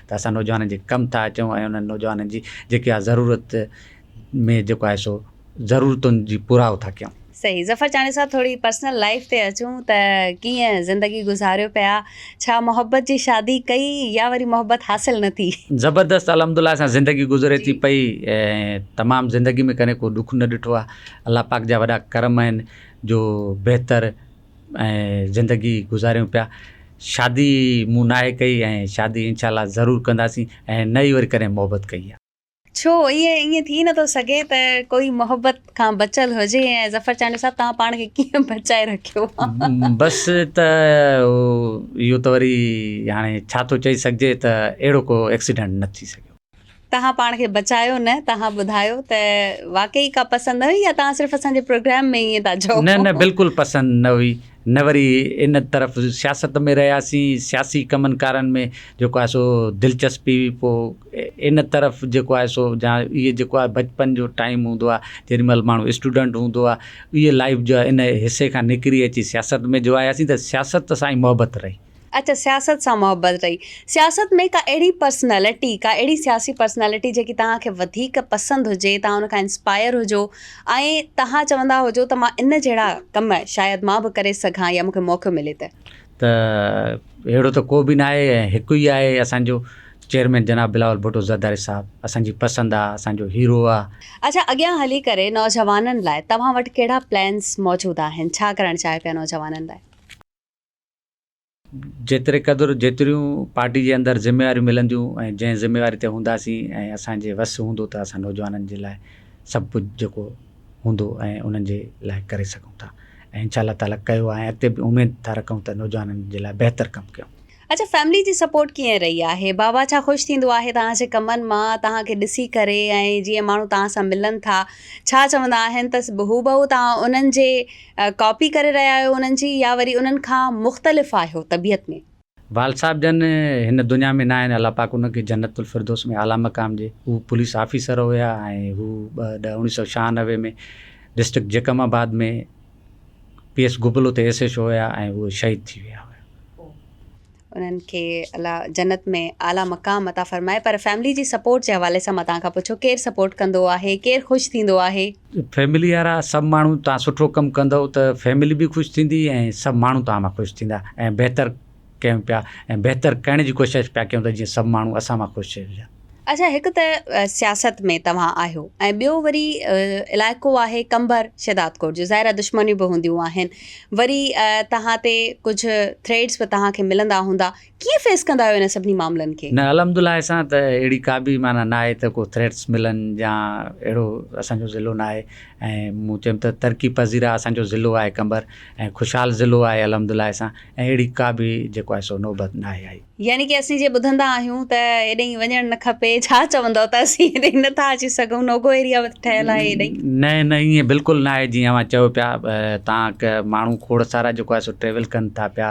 S2: ته اسان نوجوانن جي ڪم ٿا اچون ۽ انهن نوجوانن جي جيڪي آ ضرورت ۾ جيڪو آهي سو ضرورتن جي پورائو ٿا ڪيون. صحيح ظفر چانڊيو صاحب
S1: ٿوري پرسنل لائيف تي اچون ته ڪيئن زندگي گذاريو پيا ڇا محبت جي شادي ڪئي يا وري محبت حاصل نه ٿي. زبردست الحمدالله
S2: سان زندگي گذري ٿي پئي تمام زندگي ۾ ڪڏهن ڪو ڏک نه ڏٺو آهي الله پاڪ جا وڏا ڪرم آهن جو بهتر ۽ زندگي گذاريون پيا شادي مون ناهي ڪئي ۽ شادي انشاء الله ضرور ڪنداسين ۽ نه ئي وري ڪڏهن محبت ڪئي آ. ڇو ايئن
S1: ايئن ٿي نٿو سگهي ته ڪوئي محبت کان بچيل هجي ۽ ظفر چانڊيو صاحب توهان پاڻ کي ڪيئن بچائي رکيو آ. بس
S2: ته اهو ته وري هاڻي ڇا ٿو چئي سگهجي ته اهڙو ڪو ايڪسيڊنٽ نه ٿي سگهيو. توهان پاڻ کي
S1: بچايو نه توهان ٻڌايو ته واقعي ڪا پسند نه هئي يا توهان صرف اسان جي پروگرام ۾ ائين ٿا چئو. نه نه بلڪل پسند
S2: نه هئي نه وري ان طرف سياست ۾ رهياسين سياسي ڪمن ڪارن ۾ جيڪو آهي سو دلچسپي هئي پو ان طرف جيڪو آهي سو جا اهي جيڪو آهي بچپن جو ٽائيم هوندو آهي جيڏي مهل ماڻهو اسٽوڊنٽ هوندو آهي اهي لائف جو آهي ان حصي کان نڪري اچي سياست ۾ جو آياسين ته سياست سان ئي محبت رهي اچ سياست سان
S1: محبت رهي. سياست ۾ ڪا اهڙي پرسنالٽي ڪا اهڙي سياسي پرسنالٽي جيڪي توهان کي وڌيڪ پسند هجي توهان ان کان انسپائر هجو ۽ توهان چوندا هجو ته مان ان جهڙا ڪم شايد مان به ڪري سگهان يا مون کي موقعو ملي ته. ته
S2: اهڙو ته ڪو به نه آهي ۽ هڪ ئي آهي اسان جو چيئرمين جناب بلاول ڀٽو زرداري صاحب اسان جي پسند آهي اسان جو هيرو آهي. اچ اڳيان هلي
S1: ڪري نوجوانن لاء توهان وٽ ڪهڙا پلانس موجود آهن ڇا ڪرڻ چاهيو پيا نوجوانن لاء.
S2: جيتري قدر جيتريون پارٽي جي اندر ذميواريون ملنديون ۽ جنهن ذميواري تي هونداسين ۽ اسان جي وس هوندو ته اسان نوجوانن جي لاء سڀ ڪجهه جيڪو هوندو ۽ انهن جي لاء ڪري سگهون ٿا ۽ انشاء الله تعاليٰ ڪيو آهي ۽ اڳتي به اميد ٿا رکون ته نوجوانن جي لاء بهتر ڪم ڪيون. اچا
S1: فيملي جي سپورٽ ڪيئن رهي آهي؟ بابا ڇا خوش ٿيندو آهي توهان جي ڪمن مان توهان کي ڏسي ڪري ۽ جيئن ماڻهو توهان سان ملن ٿا ڇا چوندا آهن ته هوبهو توهان انهن جي ڪاپي ڪري رهيا آهيو انهن جي يا وري انهن کان مختلف آهيو طبيعت ۾؟ وال صاحب جن
S2: هن دنيا ۾ ناهن الله پاڪ انهن کي جنت الفردوس ۾ اعليٰ مقام ڏي هو پوليس آفيسر هيا ۽ هو ٻه ڏهه اڻويهه سؤ ڇهانوي ۾ district Jacobabad ۾ P S گبل اتي ايس ايڇ او هيا ۽ هو شهيد ٿي ويا هيا.
S1: انهن کي الله جنت ۾ اعلٰي مقام عطا فرمائي پر فيملي جي سپورٽ جي حوالي سان مان توهان کان پڇو ڪير سپورٽ ڪندو آهي ڪير خوش ٿيندو آهي. فيملي وارا
S2: سڀ ماڻهو توهان سٺو ڪم ڪندو ته فيملي به خوش ٿيندي ۽ سڀ ماڻهو توهان مان خوش ٿيندا ۽ بهتر ڪيون پيا ۽ بهتر ڪرڻ جي ڪوشش پيا ڪيون ته جيئن سڀ ماڻهو اسان مان خوش ٿي وڃن. اڇا هڪ ته
S1: سياست ۾ توهان آهيو ۽ ٻيو وري علائقو آهي قمبر شهدادڪوٽ جو ظاهر دشمنيون به هونديون آهن وري توهان تي ڪجهه ٿريٽس به توهان کي ملندا هوندا ڪيئن فيس ڪندا آهيو ان سڀني معاملن کي. نه الحمد الله اسان
S2: ته اهڙي ڪا به معنيٰ نه آهي ته ڪو ٿريٽس ملن يا اهڙو اسان جو ضلعو نه آهي ۽ مون چيم ته ترقي پذيره اسان جو ضلعو آهي قمبر ۽ خوشحال ضلعو آهي الحمد الله اسان ۽ اهڙي ڪا به جيڪو آهي سو نوبت نه آهي آئي. يعني ڪي اسين جي ٻڌندا
S1: آهيون ته ايڏئين وڃڻ نه کپي ڇا چوندؤ ته اسين ايڏئين نه ٿا اچي سگهون نوگو ايريا ٺهيل آهي ايڏئين. نه نه ائين بلڪل
S2: نه آهي جيئن اوهان چئو پيا تانڪ ماڻهو کوڙ سارا جيڪو آهي سو ٽريول ڪن ٿا پيا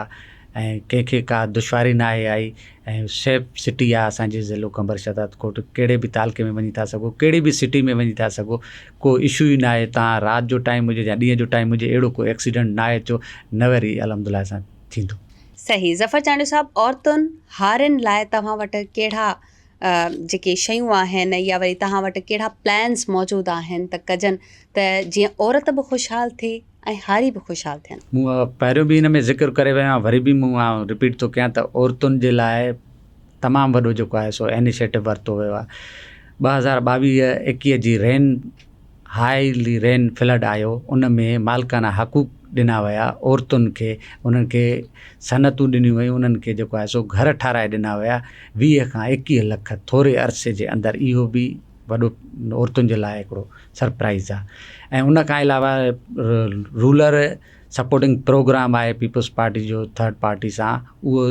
S2: ۽ ڪنهن کي ڪا دشواري نه آهي آئي ۽ سيف سٽي آهي اسان جي ضلعو قمبر شهداد ڪوٽ ڪهڙي به تعلقي ۾ وڃي ٿا سگهو ڪهڙي به سٽي ۾ وڃي ٿا سگهو ڪو اشو ئي نه آهي تان رات جو ٽائيم هجي يا ڏينهن جو ٽائيم هجي اهڙو ڪو ايڪسيڊنٽ نه آهي ٿيو نه وري الحمد لله سان ٿيندو. صحيح ظفر
S1: چانڊيو صاحب عورتن هارين لاء توهان وٽ ڪهڙا جيڪي شيون آهن يا وري توهان وٽ ڪهڙا پلانس موجود آهن ته ڪجن ته جيئن عورت به خوشحال ٿئي ۽ هاري به خوشحال ٿين. مون پهريون به ان ۾ ذڪر
S2: ڪري ويو آهيان وري به مون آئون رپيٽ ٿو ڪيان ته عورتن جي لاء تمام وڏو جيڪو آهي سو انيشيٽو ورتو ويو آهي ٻه هزار ٻاويهه ايڪيهه جي رين هاء رين فلڊ آيو ان ۾ مالڪانه حقوق ڏنا ويا عورتن کي انهن کي صنعتون ڏنيون ويون انهن کي جيڪو آهي سو گهر ٺاهرائي ڏنا ويا ويهه کان ايڪيهه لک ٿوري عرصي جي اندر اهو به وڏو عورتن جي لاء هڪڙو سرپرائز آهي ۽ ان کان علاوه رولر سپورٽنگ پروگرام آهي پيپلز پارٽي جو ٿرڊ پارٽي سان اهو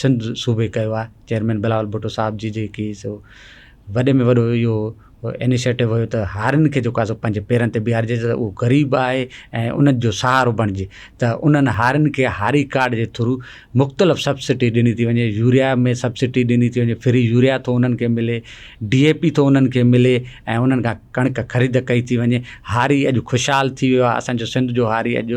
S2: سنڌ صوبي ڪيو آهي چيئرمين بلاول ڀٽو صاحب جي جيڪي سو وڏي ۾ وڏو اهو انيشيٽو هيو ته هارين کي جيڪو سو پنهنجي پيرن تي بيهارجي ته اهو غريب آهي ۽ انهن جو سهارو بڻجي ته انهن هارين کي هاري ڪارڊ جي ٿرو مختلف سبسڊي ڏني ٿي وڃي يوريا ۾ سبسڊي ڏني ٿي وڃي فري يوريا ٿو انهن کي ملي ڊي اي پي ٿو انهن کي ملي ۽ انهن کان ڪڻڪ خريد ڪئي ٿي وڃي هاري اڄ خوشحال ٿي ويو آهي اسانجو سنڌ جو هاري اڄ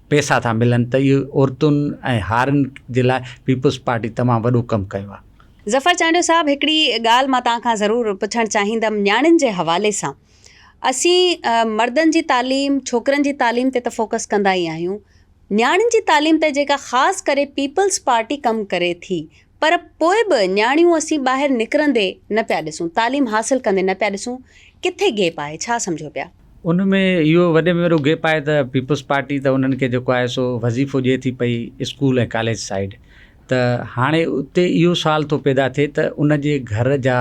S2: پئسا ٿا ملن ته اهي عورتن ۽ هارين جي لاء پيپلز پارٽي تمام وڏو ڪم ڪيو آهي. ظفر چانڊيو صاحب
S1: هڪڙي ڳالهه مان توهان کان ضرور پڇڻ چاهيندم نياڻين جي حوالي سان اسين مردن جي تعليم ڇوڪرن جي تعليم تي ته فوڪس ڪندا ئي آهيون نياڻين جي تعليم تي جيڪا خاص ڪري پيپلز پارٽي ڪم ڪري ٿي پر پوء به نياڻيون اسين ٻاهر نڪرندي نه پيا ڏسون، تعليم حاصل ڪندي نه پيا ڏسون، ڪٿي گيپ آهي، ڇا سمجهو پيا؟ ان ۾ اهو
S2: وڏي ۾ وڏو گيپ آهي ته پيپلز پارٽي ته انهن کي جيڪو آهي سو وظيفو ڏئي ٿي پئي اسڪول ۽ ڪاليج سائيڊ ته هاڻي اتي اهو سوال ٿو پيدا ٿئي ته ان جي گهر جا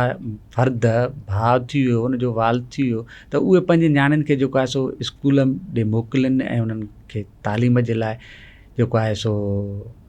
S2: فرد ڀاء ٿي ويو ان جو والد ٿي ويو ته اهي پنهنجي نياڻين کي جيڪو آهي سو اسڪول ڏي موڪلين ۽ انهن کي تعليم جي لاء جيڪو آهي سو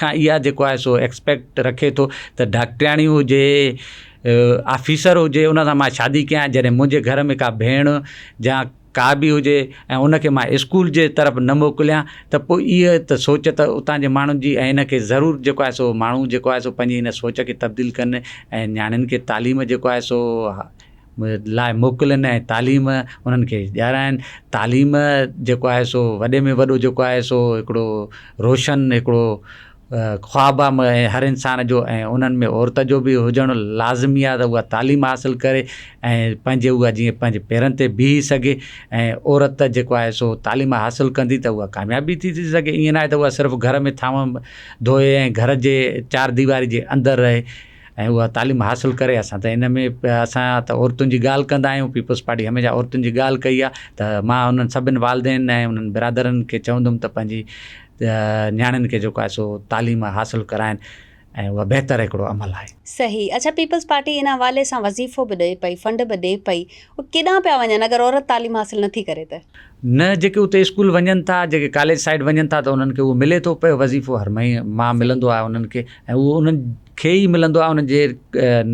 S2: کان اها جيڪو آهي سو ايڪسپيڪٽ رکي ٿو ته ڊاڪٽرياڻي هجي آفيسر هجي ان سان مان شادي ڪيان جڏهن منهنجي گهر ۾ ڪا ڀيڻ جا ڪا به هجي ۽ ان کي مان اسڪول جي طرف نه موڪليان ته پوء اها ته سوچ ته اتان جي ماڻهن جي ۽ ان کي ضرور جيڪو آهي سو ماڻهو جيڪو آهي سو پنهنجي ان سوچ کي تبديل ڪن ۽ نياڻين کي تعليم جيڪو آهي سو لاء موڪلين ۽ تعليم انهن کي ڏيارائين تعليم جيڪو آهي سو وڏي ۾ وڏو جيڪو آهي سو هڪڙو روشن هڪڙو خواب آهي هر انسان جو ۽ انهن ۾ عورت جو به هجڻ لازمي آهي ته هو تعليم حاصل ڪري ۽ پنهنجي هو جيئن پنهنجي پيرن تي بيهي سگهي ۽ عورت جيڪو آهي سو تعليم حاصل ڪندي ته هو ڪامياب به ٿي سگهي ائين ناهي ته هو صرف گهر ۾ ٿانو ڌوئي ۽ گهر جي چار ديواري جي اندر رهي ۽ اها تعليم حاصل ڪري اسان ته ان ۾ اسان ته عورتن جي ڳالهه ڪندا آهيون پيپلز پارٽي هميشه عورتن جي ڳالهه ڪئي آهي ته مان انهن سڀني والدين ۽ انهن برادرن کي چوندم ته پنهنجي نياڻين کي جيڪو آهي سو تعليم حاصل ڪرائن ۽ اها بهتر هڪڙو عمل آهي. صحيح اڇا پيپلز
S1: پارٽي ان حوالي سان وظيفو به ڏئي پئي فنڊ به ڏي پئي اهي ڪيڏانهن پيا وڃن اگر عورت تعليم حاصل نٿي ڪري ته. نه جيڪي اتي
S2: اسڪول وڃن ٿا جيڪي ڪاليج سائيڊ وڃن ٿا ته انهن کي اهو ملي ٿو پيو وظيفو هر مهي ماه ملندو آهي انهن کي ۽ اهو انهن کي ئي ملندو آهي انهن جي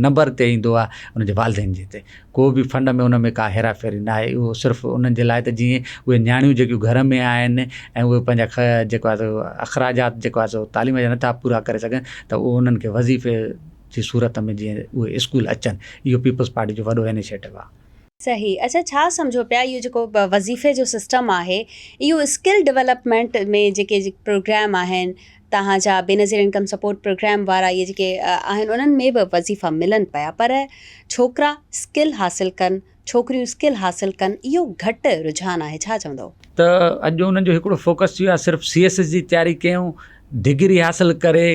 S2: نمبر تي ايندو آهي انهن جي والدين جي تي ڪو بي فنڊ ۾ ان ۾ ڪا هيرا ڦيري نه آهي اهو صرف انهن جي لاء ته جيئن اهي نياڻيون جيڪيون گهر ۾ آهن ۽ اهي پنهنجا خ جيڪو آهي سو اخراجات جيڪو آهي سو تعليم جا نٿا پورا ڪري سگهن ته اهو انهن کي وظيفي جي صورت ۾ جيئن اهي اسڪول اچن اهو پيپلز پارٽي جو وڏو انيشيٽو آهي صحيح اچا ڇا
S1: سمجهو پيا اهو جيڪو وظيفي جو سسٽم آهي اهو اسڪل ڊولپمينٽ ۾ جيڪي پروگرام آهن توهان جا بينظير انڪم سپورٽ پروگرام وارا اهي جيڪي آهن انهن ۾ به وظيفا ملن پيا پر ڇوڪرا اسڪل حاصل ڪن ڇوڪريون اسڪل حاصل ڪن اهو گهٽ رجحان آهي ڇا چوندو. ته اڄ انهن
S2: جو هڪڙو فوڪس ٿي ويو آهي صرف سي ايس ايس جي تياري ڪيون ڊگري حاصل ڪري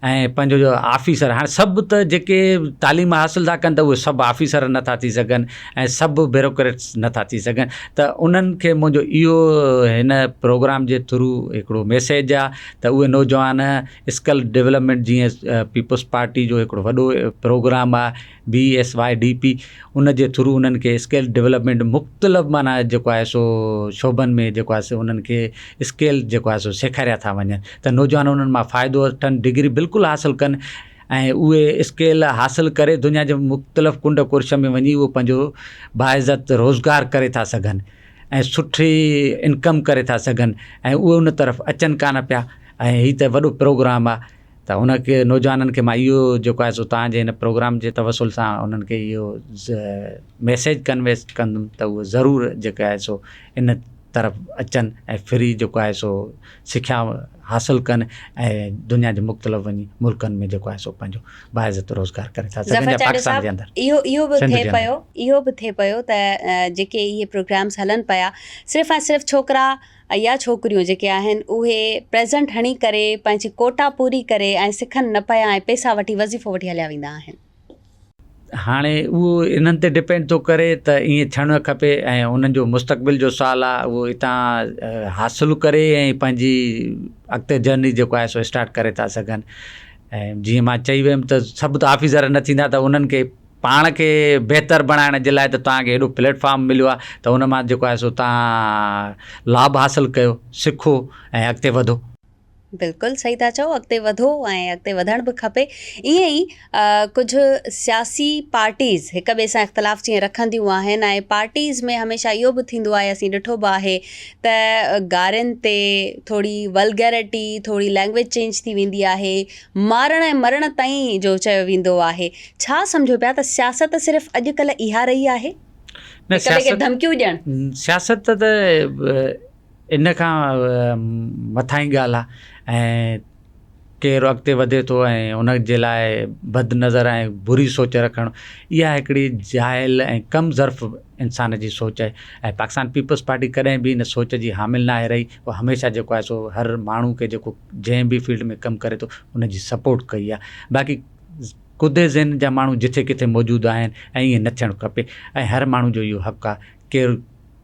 S2: ۽ پنهنجو جو آفيسر هاڻ سڀ ته جيڪي تعليم حاصل ٿا ڪن ته اهي سڀ آفيسر نٿا ٿي سگهن ۽ سڀ بيروڪريٽس نٿا ٿي سگهن ته انهن کي منهنجو اهو هن پروگرام جي ٿرو هڪڙو ميسيج آ ته اهي نوجوان اسڪل ڊولپمينٽ جيئن پيپلز پارٽي جو هڪڙو وڏو پروگرام آ B S Y D P ان جي ٿرو انهن کي اسڪيل ڊولپمينٽ مختلف معنيٰ جيڪو آهي سو شعبن ۾ جيڪو آهي سو انهن کي اسڪيل جيڪو آهي سو سيکاريا ٿا وڃن ته نوجوان انهن مان فائدو وٺن ڊگري بلڪل حاصل ڪن ۽ اهي اسڪيل حاصل ڪري دنيا جي مختلف ڪنڊ ڪرش ۾ وڃي اهو پنهنجو باعزت روزگار ڪري ٿا سگهن ۽ سٺي انڪم ڪري ٿا سگهن ۽ اهي ان طرف اچن ڪانه پيا ۽ هي ته وڏو پروگرام آهي ته هن کي نوجوانن کي مان اهو جيڪو آهي سو تهان جي هن پروگرام جي توسل سان انهن کي اهو ميسيج ڪنوي ڪندم ته اهو ضرور جيڪو آهي سو ان طرف اچن ۽ فري جيڪو آهي سو سکيا حاصل ڪن ۽ دنيا جي مختلف وڃي ملڪن ۾ جيڪو آهي سو پنهنجو باعزت روزگار ڪري ٿا سگهن جا پاڪستان جي اندر اهو اهو به ٿئي پيو
S1: اهو به ٿئي پيو ته جيڪي اهي پروگرامز هلن پيا صرف ۽ صرف ڇوڪرا اھيا ڇوڪريون جيڪي آھن اھي پريزنٽ ھڻي ڪري پنھنجي ڪوٽا پوري ڪري ۽ سکن نه پيا ۽ پيسا وٺي وظيفو وٺي ھليا ويندا آھن.
S2: ھاڻي اھو انھن تي ڊپينڊ ٿو ڪري ته ائين ٿيڻ کپي ۽ انھن جو مستقبل جو سوال آ اھو اتان حاصل ڪري ۽ پنھنجي اڳتي جرني جيڪو آھي سو اسٽارٽ ڪري ٿا سگھن ۽ جيئن مان چئي ويم ته سڀ ته آفيسر نه ٿيندا ته انھن کي پاڻ کي بهتر بڻائڻ جي لاء ته توهان کي هيڏو پليٽ فارم مليو آهي ته ان مان جيڪو آهي سو توهان لاڀ حاصل ڪيو، سکو ۽ اڳتي وڌو. بلڪل
S1: صحيح ٿا چئو اڳتي وڌو ۽ اڳتي وڌڻ به کپي ائين ئي ڪجهه سياسي پارٽيز هڪ ٻئي سان اختلاف جيئن رکنديون آهن ۽ پارٽيز ۾ هميشه اهو به ٿيندو آهي اسين ڏٺو به آهي ته گارين تي ٿوري ولگيرٽي ٿوري لينگويج چينج ٿي ويندي آهي مارڻ ۽ مرڻ تائين جو چيو ويندو آهي. ڇا سمجهو پيا ته سياست صرف اڄڪلهه اها رهي آهي؟ نه هڪ ٻئي کي سياست ڌمڪيون ڏيڻ. سياست ته
S2: ان کان مٿاهين ڳالهه آهي ۽ ڪير اڳتي وڌي ٿو ۽ ان جي لاء بد نظر ۽ بري سوچ رکڻ اها هڪڙي جاهل ۽ ڪم ظرف انسان جي سوچ آهي ۽ پاڪستان پيپلز پارٽي ڪڏهن به ان سوچ جي حامل ناهي رهي. پوء هميشه جيڪو آهي سو هر ماڻهو کي جيڪو جنهن به فيلڊ ۾ ڪم ڪري ٿو ان جي سپورٽ ڪئي آهي باقي ڪڌي ذهن جا ماڻهو جٿي ڪٿي موجود آهن ۽ ائين نه ٿيڻ کپي ۽ هر ماڻهو جو اهو حق آهي ڪير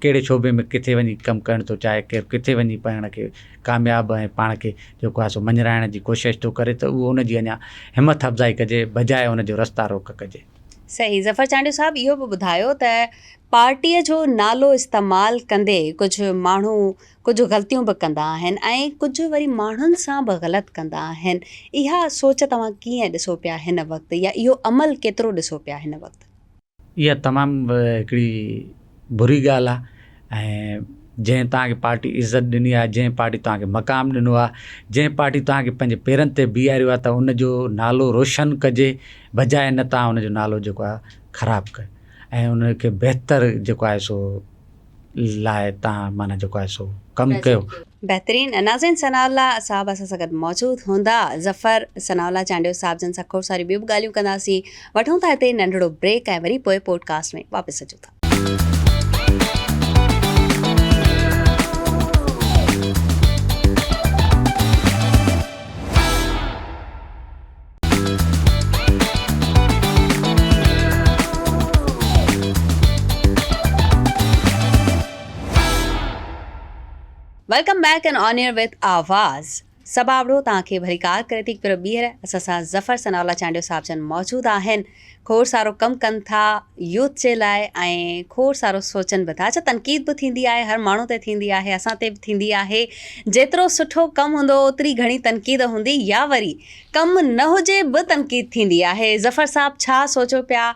S2: ڪهڙي شعبي ۾ ڪٿي وڃي ڪم ڪرڻ ٿو چاهي ڪير ڪٿي وڃي پاڻ کي ڪامياب ۽ پاڻ کي جيڪو آهي سو مڃرائڻ جي ڪوشش ٿو ڪري ته اهو ان جي اڃا همٿ افزائي ڪجي بجاء ان جو رستا روڪ ڪجي. صحيح ظفر
S1: چانڊيو صاحب اهو به ٻڌايو ته پارٽيء جو نالو استعمال ڪندي ڪجهه ماڻهو ڪجهه غلطيون به ڪندا آهن ۽ ڪجهه وري ماڻهن سان به غلط ڪندا آهن اها سوچ توهان ڪيئن ڏسو پيا هن وقت يا اهو عمل ڪيترو ڏسو پيا هن وقت؟ اها تمام
S2: هڪڙي بري ڳالهه آهي ۽ جنهن توهان کي پارٽي عزت ڏني آهي جنهن پارٽي توهان کي مقام ڏنو آهي جنهن پارٽي توهان کي پنهنجي پيرن تي بيهاريو آهي ته ان جو نالو روشن ڪجي بجاء ان توهان ان جو نالو جيڪو آهي خراب ڪيو ۽ ان کي بهتر جيڪو آهي سو لاء تان معنيٰ جيڪو آهي سو ڪم ڪيو. بهترين ناظرين
S1: ثناء الله صاحب اسان سان گڏ موجود هوندا ظفر ثناء الله چانڊيو صاحب جن سان کوڙ ساريون ٻيون به ڳالهيون ڪنداسين وٺون ٿا هتي ننڍڙو بريڪ ۽ وري پوء پوڊ ڪاسٽ ۾ واپس اچون ٿا. Welcome back in on air with Awaz سبابڙو توهان کي وري ڪار ڪري ٿي پر ٻيهر اسان سان ظفر ثناء الله چانڊيو صاحب جن موجود آهن کوڙ سارو ڪم ڪن ٿا يوٿ جي لاء ۽ کوڙ سارو سوچن به ٿا اڇا تنقيد به ٿيندي آهي هر ماڻهو تي ٿيندي آهي اسان تي به ٿيندي آهي جيترو سٺو ڪم هوندو اوتري گهڻي تنقيد هوندي يا وري ڪم نه هجي به تنقيد ٿيندي آهي ظفر صاحب ڇا سوچو پيا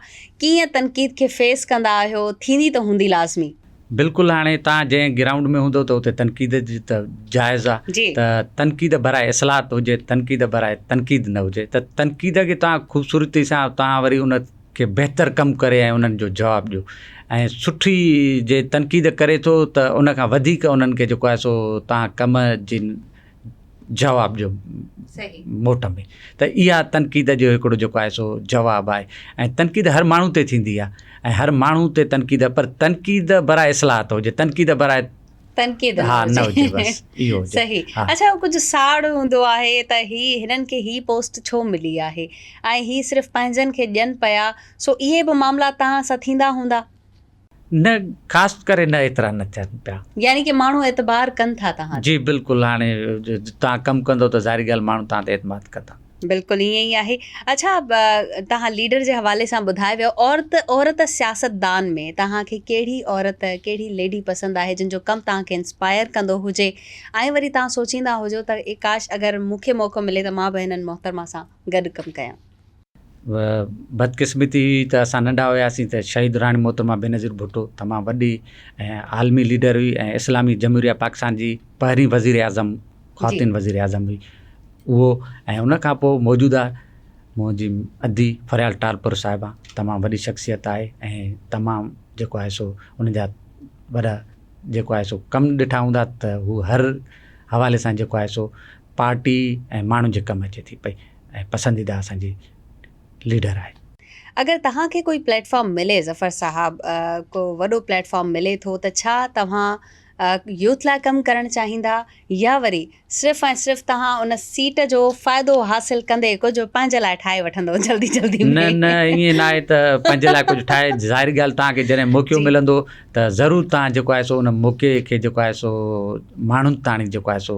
S1: ڪيئن تنقيد کي فيس ڪندا آهيو ٿيندي ته هوندي لازمي. بلڪل هاڻي
S2: تان جنهن گرائونڊ ۾ هوندو ته اتي تنقيد جي ته جائز آ ته تنقيد براء اصلاحات هجي تنقيد براء تنقيد نه هجي ته تنقيد کي تان خوبصورتي سان تان وري ان کي بهتر ڪم ڪري ۽ انهن جو جواب ڏيو ۽ سٺي جي تنقيد ڪري ٿو ته ان کان وڌيڪ انهن کي جيڪو آهي سو تان ڪم جن جواب جو موٽ ۾ ته اها تنقيد جو هڪڙو جيڪو آهي سو جواب آهي ۽ تنقيد هر ماڻهو تي ٿيندي آهي ۽ هر ماڻهو تي تنقيد پر تنقيد برائي اصلاحات هجي تنقيد برائي تنقيد ها
S1: نه
S2: هجي بس اهو صحيح اچھا ڪجھ
S1: ساڙ هوندو آهي ته هي هنن کي هي پوسٽ ڇو ملي آهي ۽ هي صرف پنهنجن کي ڏين پيا سو اهي به معاملا تان سان ٿيندا هوندا نه
S2: خاص ڪري نه ايترا نه ٿين پيا. يعني ڪي ماڻهو اعتبار
S1: ڪن ٿا توهان تي. جي بلڪل هاڻي
S2: توهان ڪم ڪندو ته ظاهري ڳالهه ماڻهو توهان تي اعتماد ڪندا. بلڪل ائين ئي آهي.
S1: اڇا توهان ليڊر جي حوالي سان ٻڌائي ويو عورت عورت سياستدان ۾ توهان کي ڪهڙي عورت ڪهڙي ليڊي پسند آهي جن جو ڪم توهان کي انسپائر ڪندو هجي ۽ وري توهان سوچيندا هجو ته اي ڪاش اگر مون کي موقعو ملي ته مان به هنن محترمه سان گڏ ڪم ڪيان. بدقسمتي
S2: هئي ته اسان ننڍا هياسين ته شهيد راڻي محترمه بينظير ڀٽو تمام وڏي ۽ عالمي ليڊر هئي ۽ اسلامي جمهوريه پاڪستان جي پهرين وزير اعظم خواتين وزير اعظم هئي اهو ۽ ان کان پوء موجوده منهنجي ادي فريال ٽالپر صاحبه تمام وڏي شخصيت آهي ۽ تمام جيڪو آهي سو ان جا وڏا جيڪو آهي سو ڪم ڏٺا هوندا ته هو هر حوالي سان جيڪو آهي سو پارٽي ۽ ماڻهن جي ڪم اچي ٿي پئي ۽ پسنديده اسان جي ليڊر آهي. اگر توهان
S1: کي ڪوئي پليٽ فارم ملي ظفر صاحب ڪو وڏو پليٽ فارم ملي ٿو ته ڇا توهان يوٿ لاء ڪم ڪرڻ چاهيندا يا وري صرف ۽ صرف توهان ان سيٽ جو فائدو حاصل ڪندي ڪجهه پنهنجي لاء ٺاهي وٺندو جلدي جلدي ۾. نه نه ائين نه آهي
S2: ته پنهنجي لاء ڪجهه ٺاهي ظاهري ڳالهه توهان کي جڏهن موقعو ملندو ته ضرور توهان جيڪو آهي سو ان موقعي کي جيڪو آهي سو ماڻهن تاڻي جيڪو آهي سو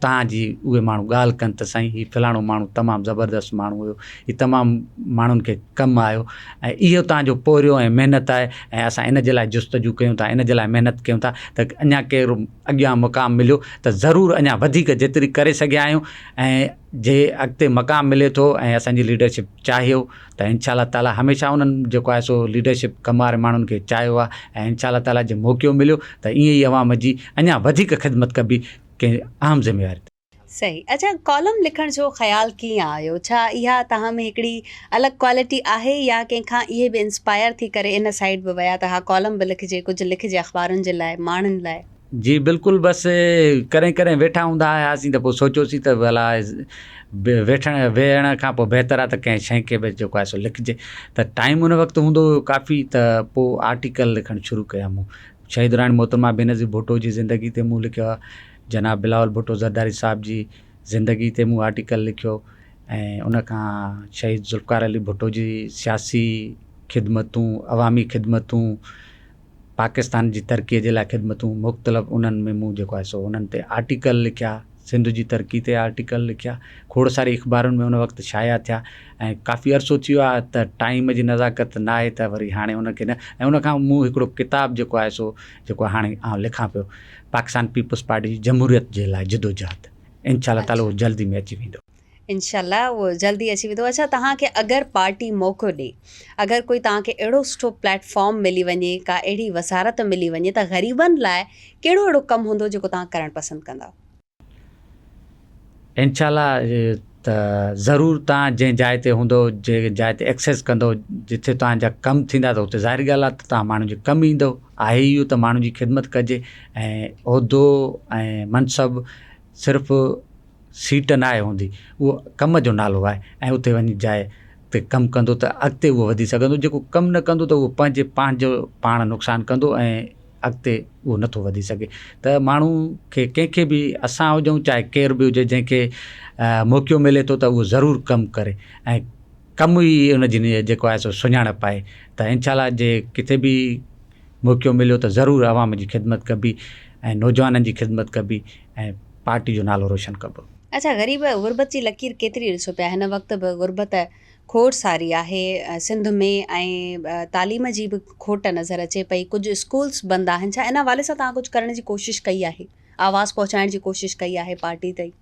S2: تان جي اهي ماڻهو ڳالهه ڪن ته سائين هي فلاڻو ماڻهو تمام زبردست ماڻهو هيو هي تمام ماڻهن کي ڪم آيو ۽ اهو تان جو پورهيو ۽ محنت آهي ۽ اسان ان جي لاء جستجو ڪيون ٿا ان جي لاء محنت ڪيون ٿا ته اڃا ڪير اڳيان مقام مليو ته ضرور اڃا وڌيڪ جيتري ڪري سگهيا آهيون ۽ جي اڳتي مقام ملي ٿو ۽ اسان جي ليڊرشپ چاهيو ته ان شاء الله تعاليٰ هميشه انهن جيڪو آهي سو ليڊرشپ ڪم واري ماڻهن کي چاهيو آهي ۽ ان شاء الله تعاليٰ جي موقعو مليو ته ائين ئي عوام جي اڃا وڌيڪ خدمت ڪبي ڪنهن اهم ذميواري تي. صحيح اچا
S1: ڪالم لکڻ جو خيال ڪيئن آيو ڇا اها توهان ۾ هڪڙي الڳ ڪوالٽي آهي يا ڪنهن کان اهي به انسپائر ٿي ڪري ان سائيڊ به ويا ته ها ڪالم به لکجي ڪجهه لکجي اخبارن جي لاء ماڻهن لاء. جي
S2: بلڪل بس ڪڏهن ڪڏهن ويٺا هوندا هياسين ته پوء سوچيوسين ته ڀلا ويٺڻ ويهڻ کان پوء بهتر آهي ته ڪنهن شيء کي به جيڪو آهي سو لکجي ته ٽائيم ان وقت هوندو هيو ڪافي ته پوء آرٽيڪل لکڻ شروع ڪيا مون شهيد راڻي محترمه بينظير ڀٽو جي زندگي تي مون لکيو آهي جناب بلاول ڀٽو زرداري صاحب جي زندگي تي مون آرٽيڪل لکيو ۽ ان کان شهيد ذوالفقار علي ڀٽو جي سياسي خدمتون عوامي خدمتون پاڪستان جي ترقي جي لاء خدمتون مختلف انهن ۾ مون جيڪو آهي سو انهن تي آرٽيڪل لکيا سنڌ جي ترقي تي آرٽيڪل لکيا، کوڙ ساري اخبارن ۾ ان وقت شايع ٿيا ۽ ڪافي عرصو ٿي ويو آهي ته ٽائيم جي نزاڪت ناهي ته وري هاڻي ان کي نه ۽ ان کان مون هڪڙو ڪتاب جيڪو آهي سو جيڪو هاڻي آئون لکان پيو پاڪستان پيپلز پارٽي جي جمهوريت جي لاء جدوجهد انشاء الله تعالي اهو جلد ئي ۾ اچي ويندو. انشاء الله اهو
S1: جلد ئي اچي ويندو. اڇا توهان کي اگر پارٽي موقعو ڏي اگر ڪوئي توهان کي اهڙو سٺو پليٽ فارم ملي وڃي ڪا اهڙي وزارت ملي وڃي ته غريبن لاء ڪهڙو اهڙو ڪم هوندو جيڪو توهان ڪرڻ پسند ڪندؤ. انشاء
S2: الله ته ضرور توهان جنهن جاء تي هوندؤ جنهن جاء تي ايڪسيس ڪندؤ جتي توهان جا ڪم ٿيندا ته اتي ظاهر ڳالهه آهي ته توهان ماڻهن جي ڪم ايندؤ آهي ئي اهو ته ماڻهن جي خدمت ڪجي ۽ عهدو ۽ منصب صرف سيٽ نه آهي هوندي اهو ڪم جو نالو آهي ۽ اتي وڃي جاء تي ڪم ڪندو ته اڳتي اهو وڌي سگهندو جيڪو ڪم نه ڪندو ته اهو پنهنجي پنهنجو پاڻ نقصان ڪندو ۽ اڳتي اهو نٿو وڌي سگهي ته ماڻهو کي ڪنهن کي بي اسان هجون چاهي ڪير بي هجي جنهن کي موقعو ملي ٿو ته اهو ضرور ڪم ڪري ۽ ڪم ئي ان جي نيت جيڪو آهي سو سڃاڻپ آهي ته انشاء الله جي ڪٿي بي موقعو مليو ته ضرور عوام جي خدمت ڪبي ۽ نوجوانن جي خدمت ڪبي ۽ پارٽي جو نالو روشن ڪبو. اچا غريب
S1: غربت جي لڪير ڪيتري ڏسو پيا هن وقت به غربت کوڙ ساري آهي سنڌ ۾ ۽ تعليم جي به کوٽ نظر اچي پئي ڪجهه اسڪولس بند آهن ڇا ان حوالي سان توهان ڪجهه ڪرڻ جي ڪوشش ڪئي آهي آواز پهچائڻ جي ڪوشش ڪئي آهي پارٽي تائين.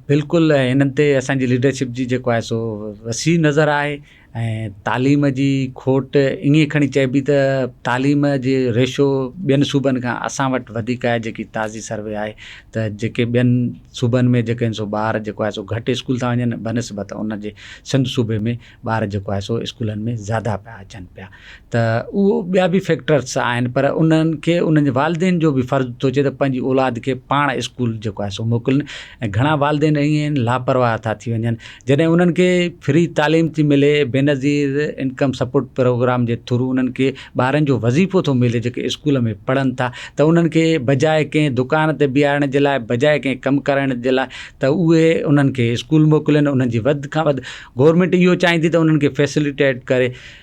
S1: بلڪل
S2: انهن تي اسان جي ليڊرشپ جي جيڪو آهي سو وسيع نظر آهي. ۽ تعليم جي کوٽ ائين کڻي چئبي ته تعليم جي ريشو ٻين صوبن کان اسان وٽ وڌيڪ آهي جيڪي تازي سروي آهي ته جيڪي ٻين صوبن ۾ جيڪي آهن سو ٻار جيڪو آهي سو گهٽ اسڪول ٿا وڃن بنسبت ان جي سنڌ صوبي ۾ ٻار جيڪو آهي سو اسڪولن ۾ زياده پيا اچن پيا ته اهو ٻيا به فيڪٽرس آهن پر انهن کي انهن جي والدين جو به فرض ٿو چئي ته پنهنجي اولاد کي پاڻ اسڪول جيڪو آهي سو موڪلين ۽ گهڻا والدين ائين آهن لاپرواهه ٿا ٿي وڃن جڏهن انهن کي فري تعليم ٿي ملي بينظير انڪم سپورٽ پروگرام جي ٿرو انهن کي ٻارن جو وظيفو ٿو ملي جيڪي اسڪول ۾ پڙهن ٿا ته انهن کي بجاء ڪنهن دڪان تي بيهارڻ جي لاء بجاء ڪنهن ڪم ڪرائڻ جي لاء ته اهي انهن کي اسڪول موڪلين انهن جي وڌ کان وڌ گورمينٽ اهو چاهيندي ته انهن کي فيسلٽيٽ ڪري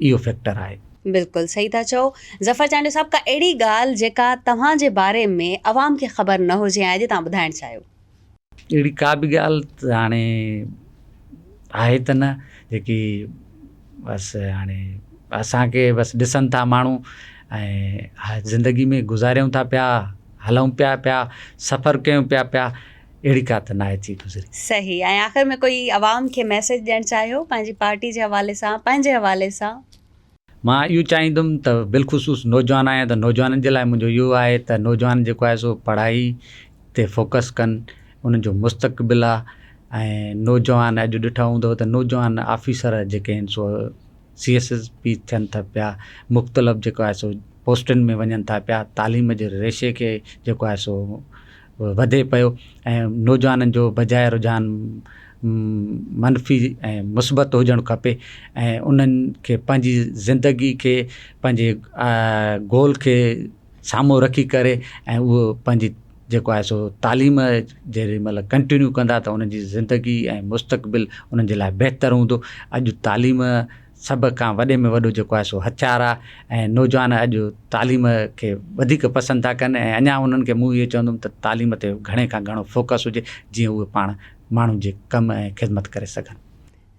S2: اهو فيڪٽر آهي. بلڪل صحيح ٿا چئو
S1: ظفر چانڊيو صاحب ڪا اهڙي ڳالهه جيڪا توهان جي باري ۾ عوام کي خبر نه هجي ۽ اڄ توهان ٻڌائڻ چاهيو. اهڙي ڪا
S2: به ڳالهه ته هاڻي آهي ته نه جيڪي بس هاڻي اسان کي بس ڏسن ٿا ماڻهو ۽ زندگي ۾ گذاريون ٿا پيا هلون پيا پيا سفر ڪيون پيا پيا اهڙي ڪا ته ناهي ٿي گذري. صحيح ۽ آخر ۾
S1: ڪوئي عوام کي ميسيج ڏيڻ چاهيو پنهنجي پارٽي جي حوالي سان پنهنجي حوالي سان. مان اهو
S2: چاهيندم ته بالخصوص نوجوان آهيان ته نوجوانن جي لاء منهنجو اهو آهي ته نوجوان جيڪو آهي سو پڙهائي تي فوڪس ڪن انهن جو مستقبل آهي ۽ نوجوان اڄ ڏٺو هوندو ته نوجوان آفيسر جيڪي آهن سو سي ايس ايس پي ٿين ٿا پيا مختلف جيڪو آهي سو پوسٽن ۾ وڃن ٿا پيا تعليم جي ريشي کي جيڪو آهي سو وڌي پيو ۽ نوجوانن جو بجاء رجحان منفي ۽ مثبت هجڻ کپي ۽ انهن کي پنهنجي زندگي کي پنهنجي گول کي سامهون رکي ڪري ۽ اهو پنهنجي جيڪو آهي سو تعليم جيڏي مهل ڪنٽينيو ڪندا ته انهن جي زندگي ۽ مستقبل انهن جي لاء بهتر هوندو اڄ تعليم سڀ کان وڏي ۾ وڏو جيڪو آهي سو هٿيار آهي ۽ نوجوان اڄ تعليم کي وڌيڪ پسند ٿا ڪن ۽ اڃا انهن کي مون اهو چوندم ته تعليم تي گهڻي کان گهڻو فوڪس هجي جيئن اهي پاڻ ماڻهن جي ڪم ۽ خدمت ڪري سگهن.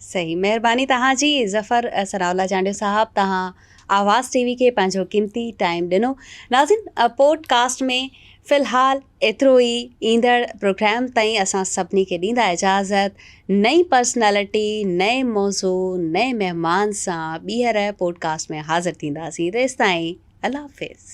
S2: صحيح
S1: مهرباني توهان جي ظفر ثناء الله چانڊيو صاحب توهان آواز ٽي وي کي پنهنجو قيمتي ٽائيم ڏنو ناظرين پوڊ ڪاسٽ ۾ في الحال ايترو ئي، ايندڙ پروگرام تائين اسان سڀني کي ڏيندا اجازت، نئين پرسنالٽي، نئين موضوع، نئين مهمان سان ٻيهر پوڊڪاسٽ ۾ حاضر ٿينداسين تيستائين الله حافظ.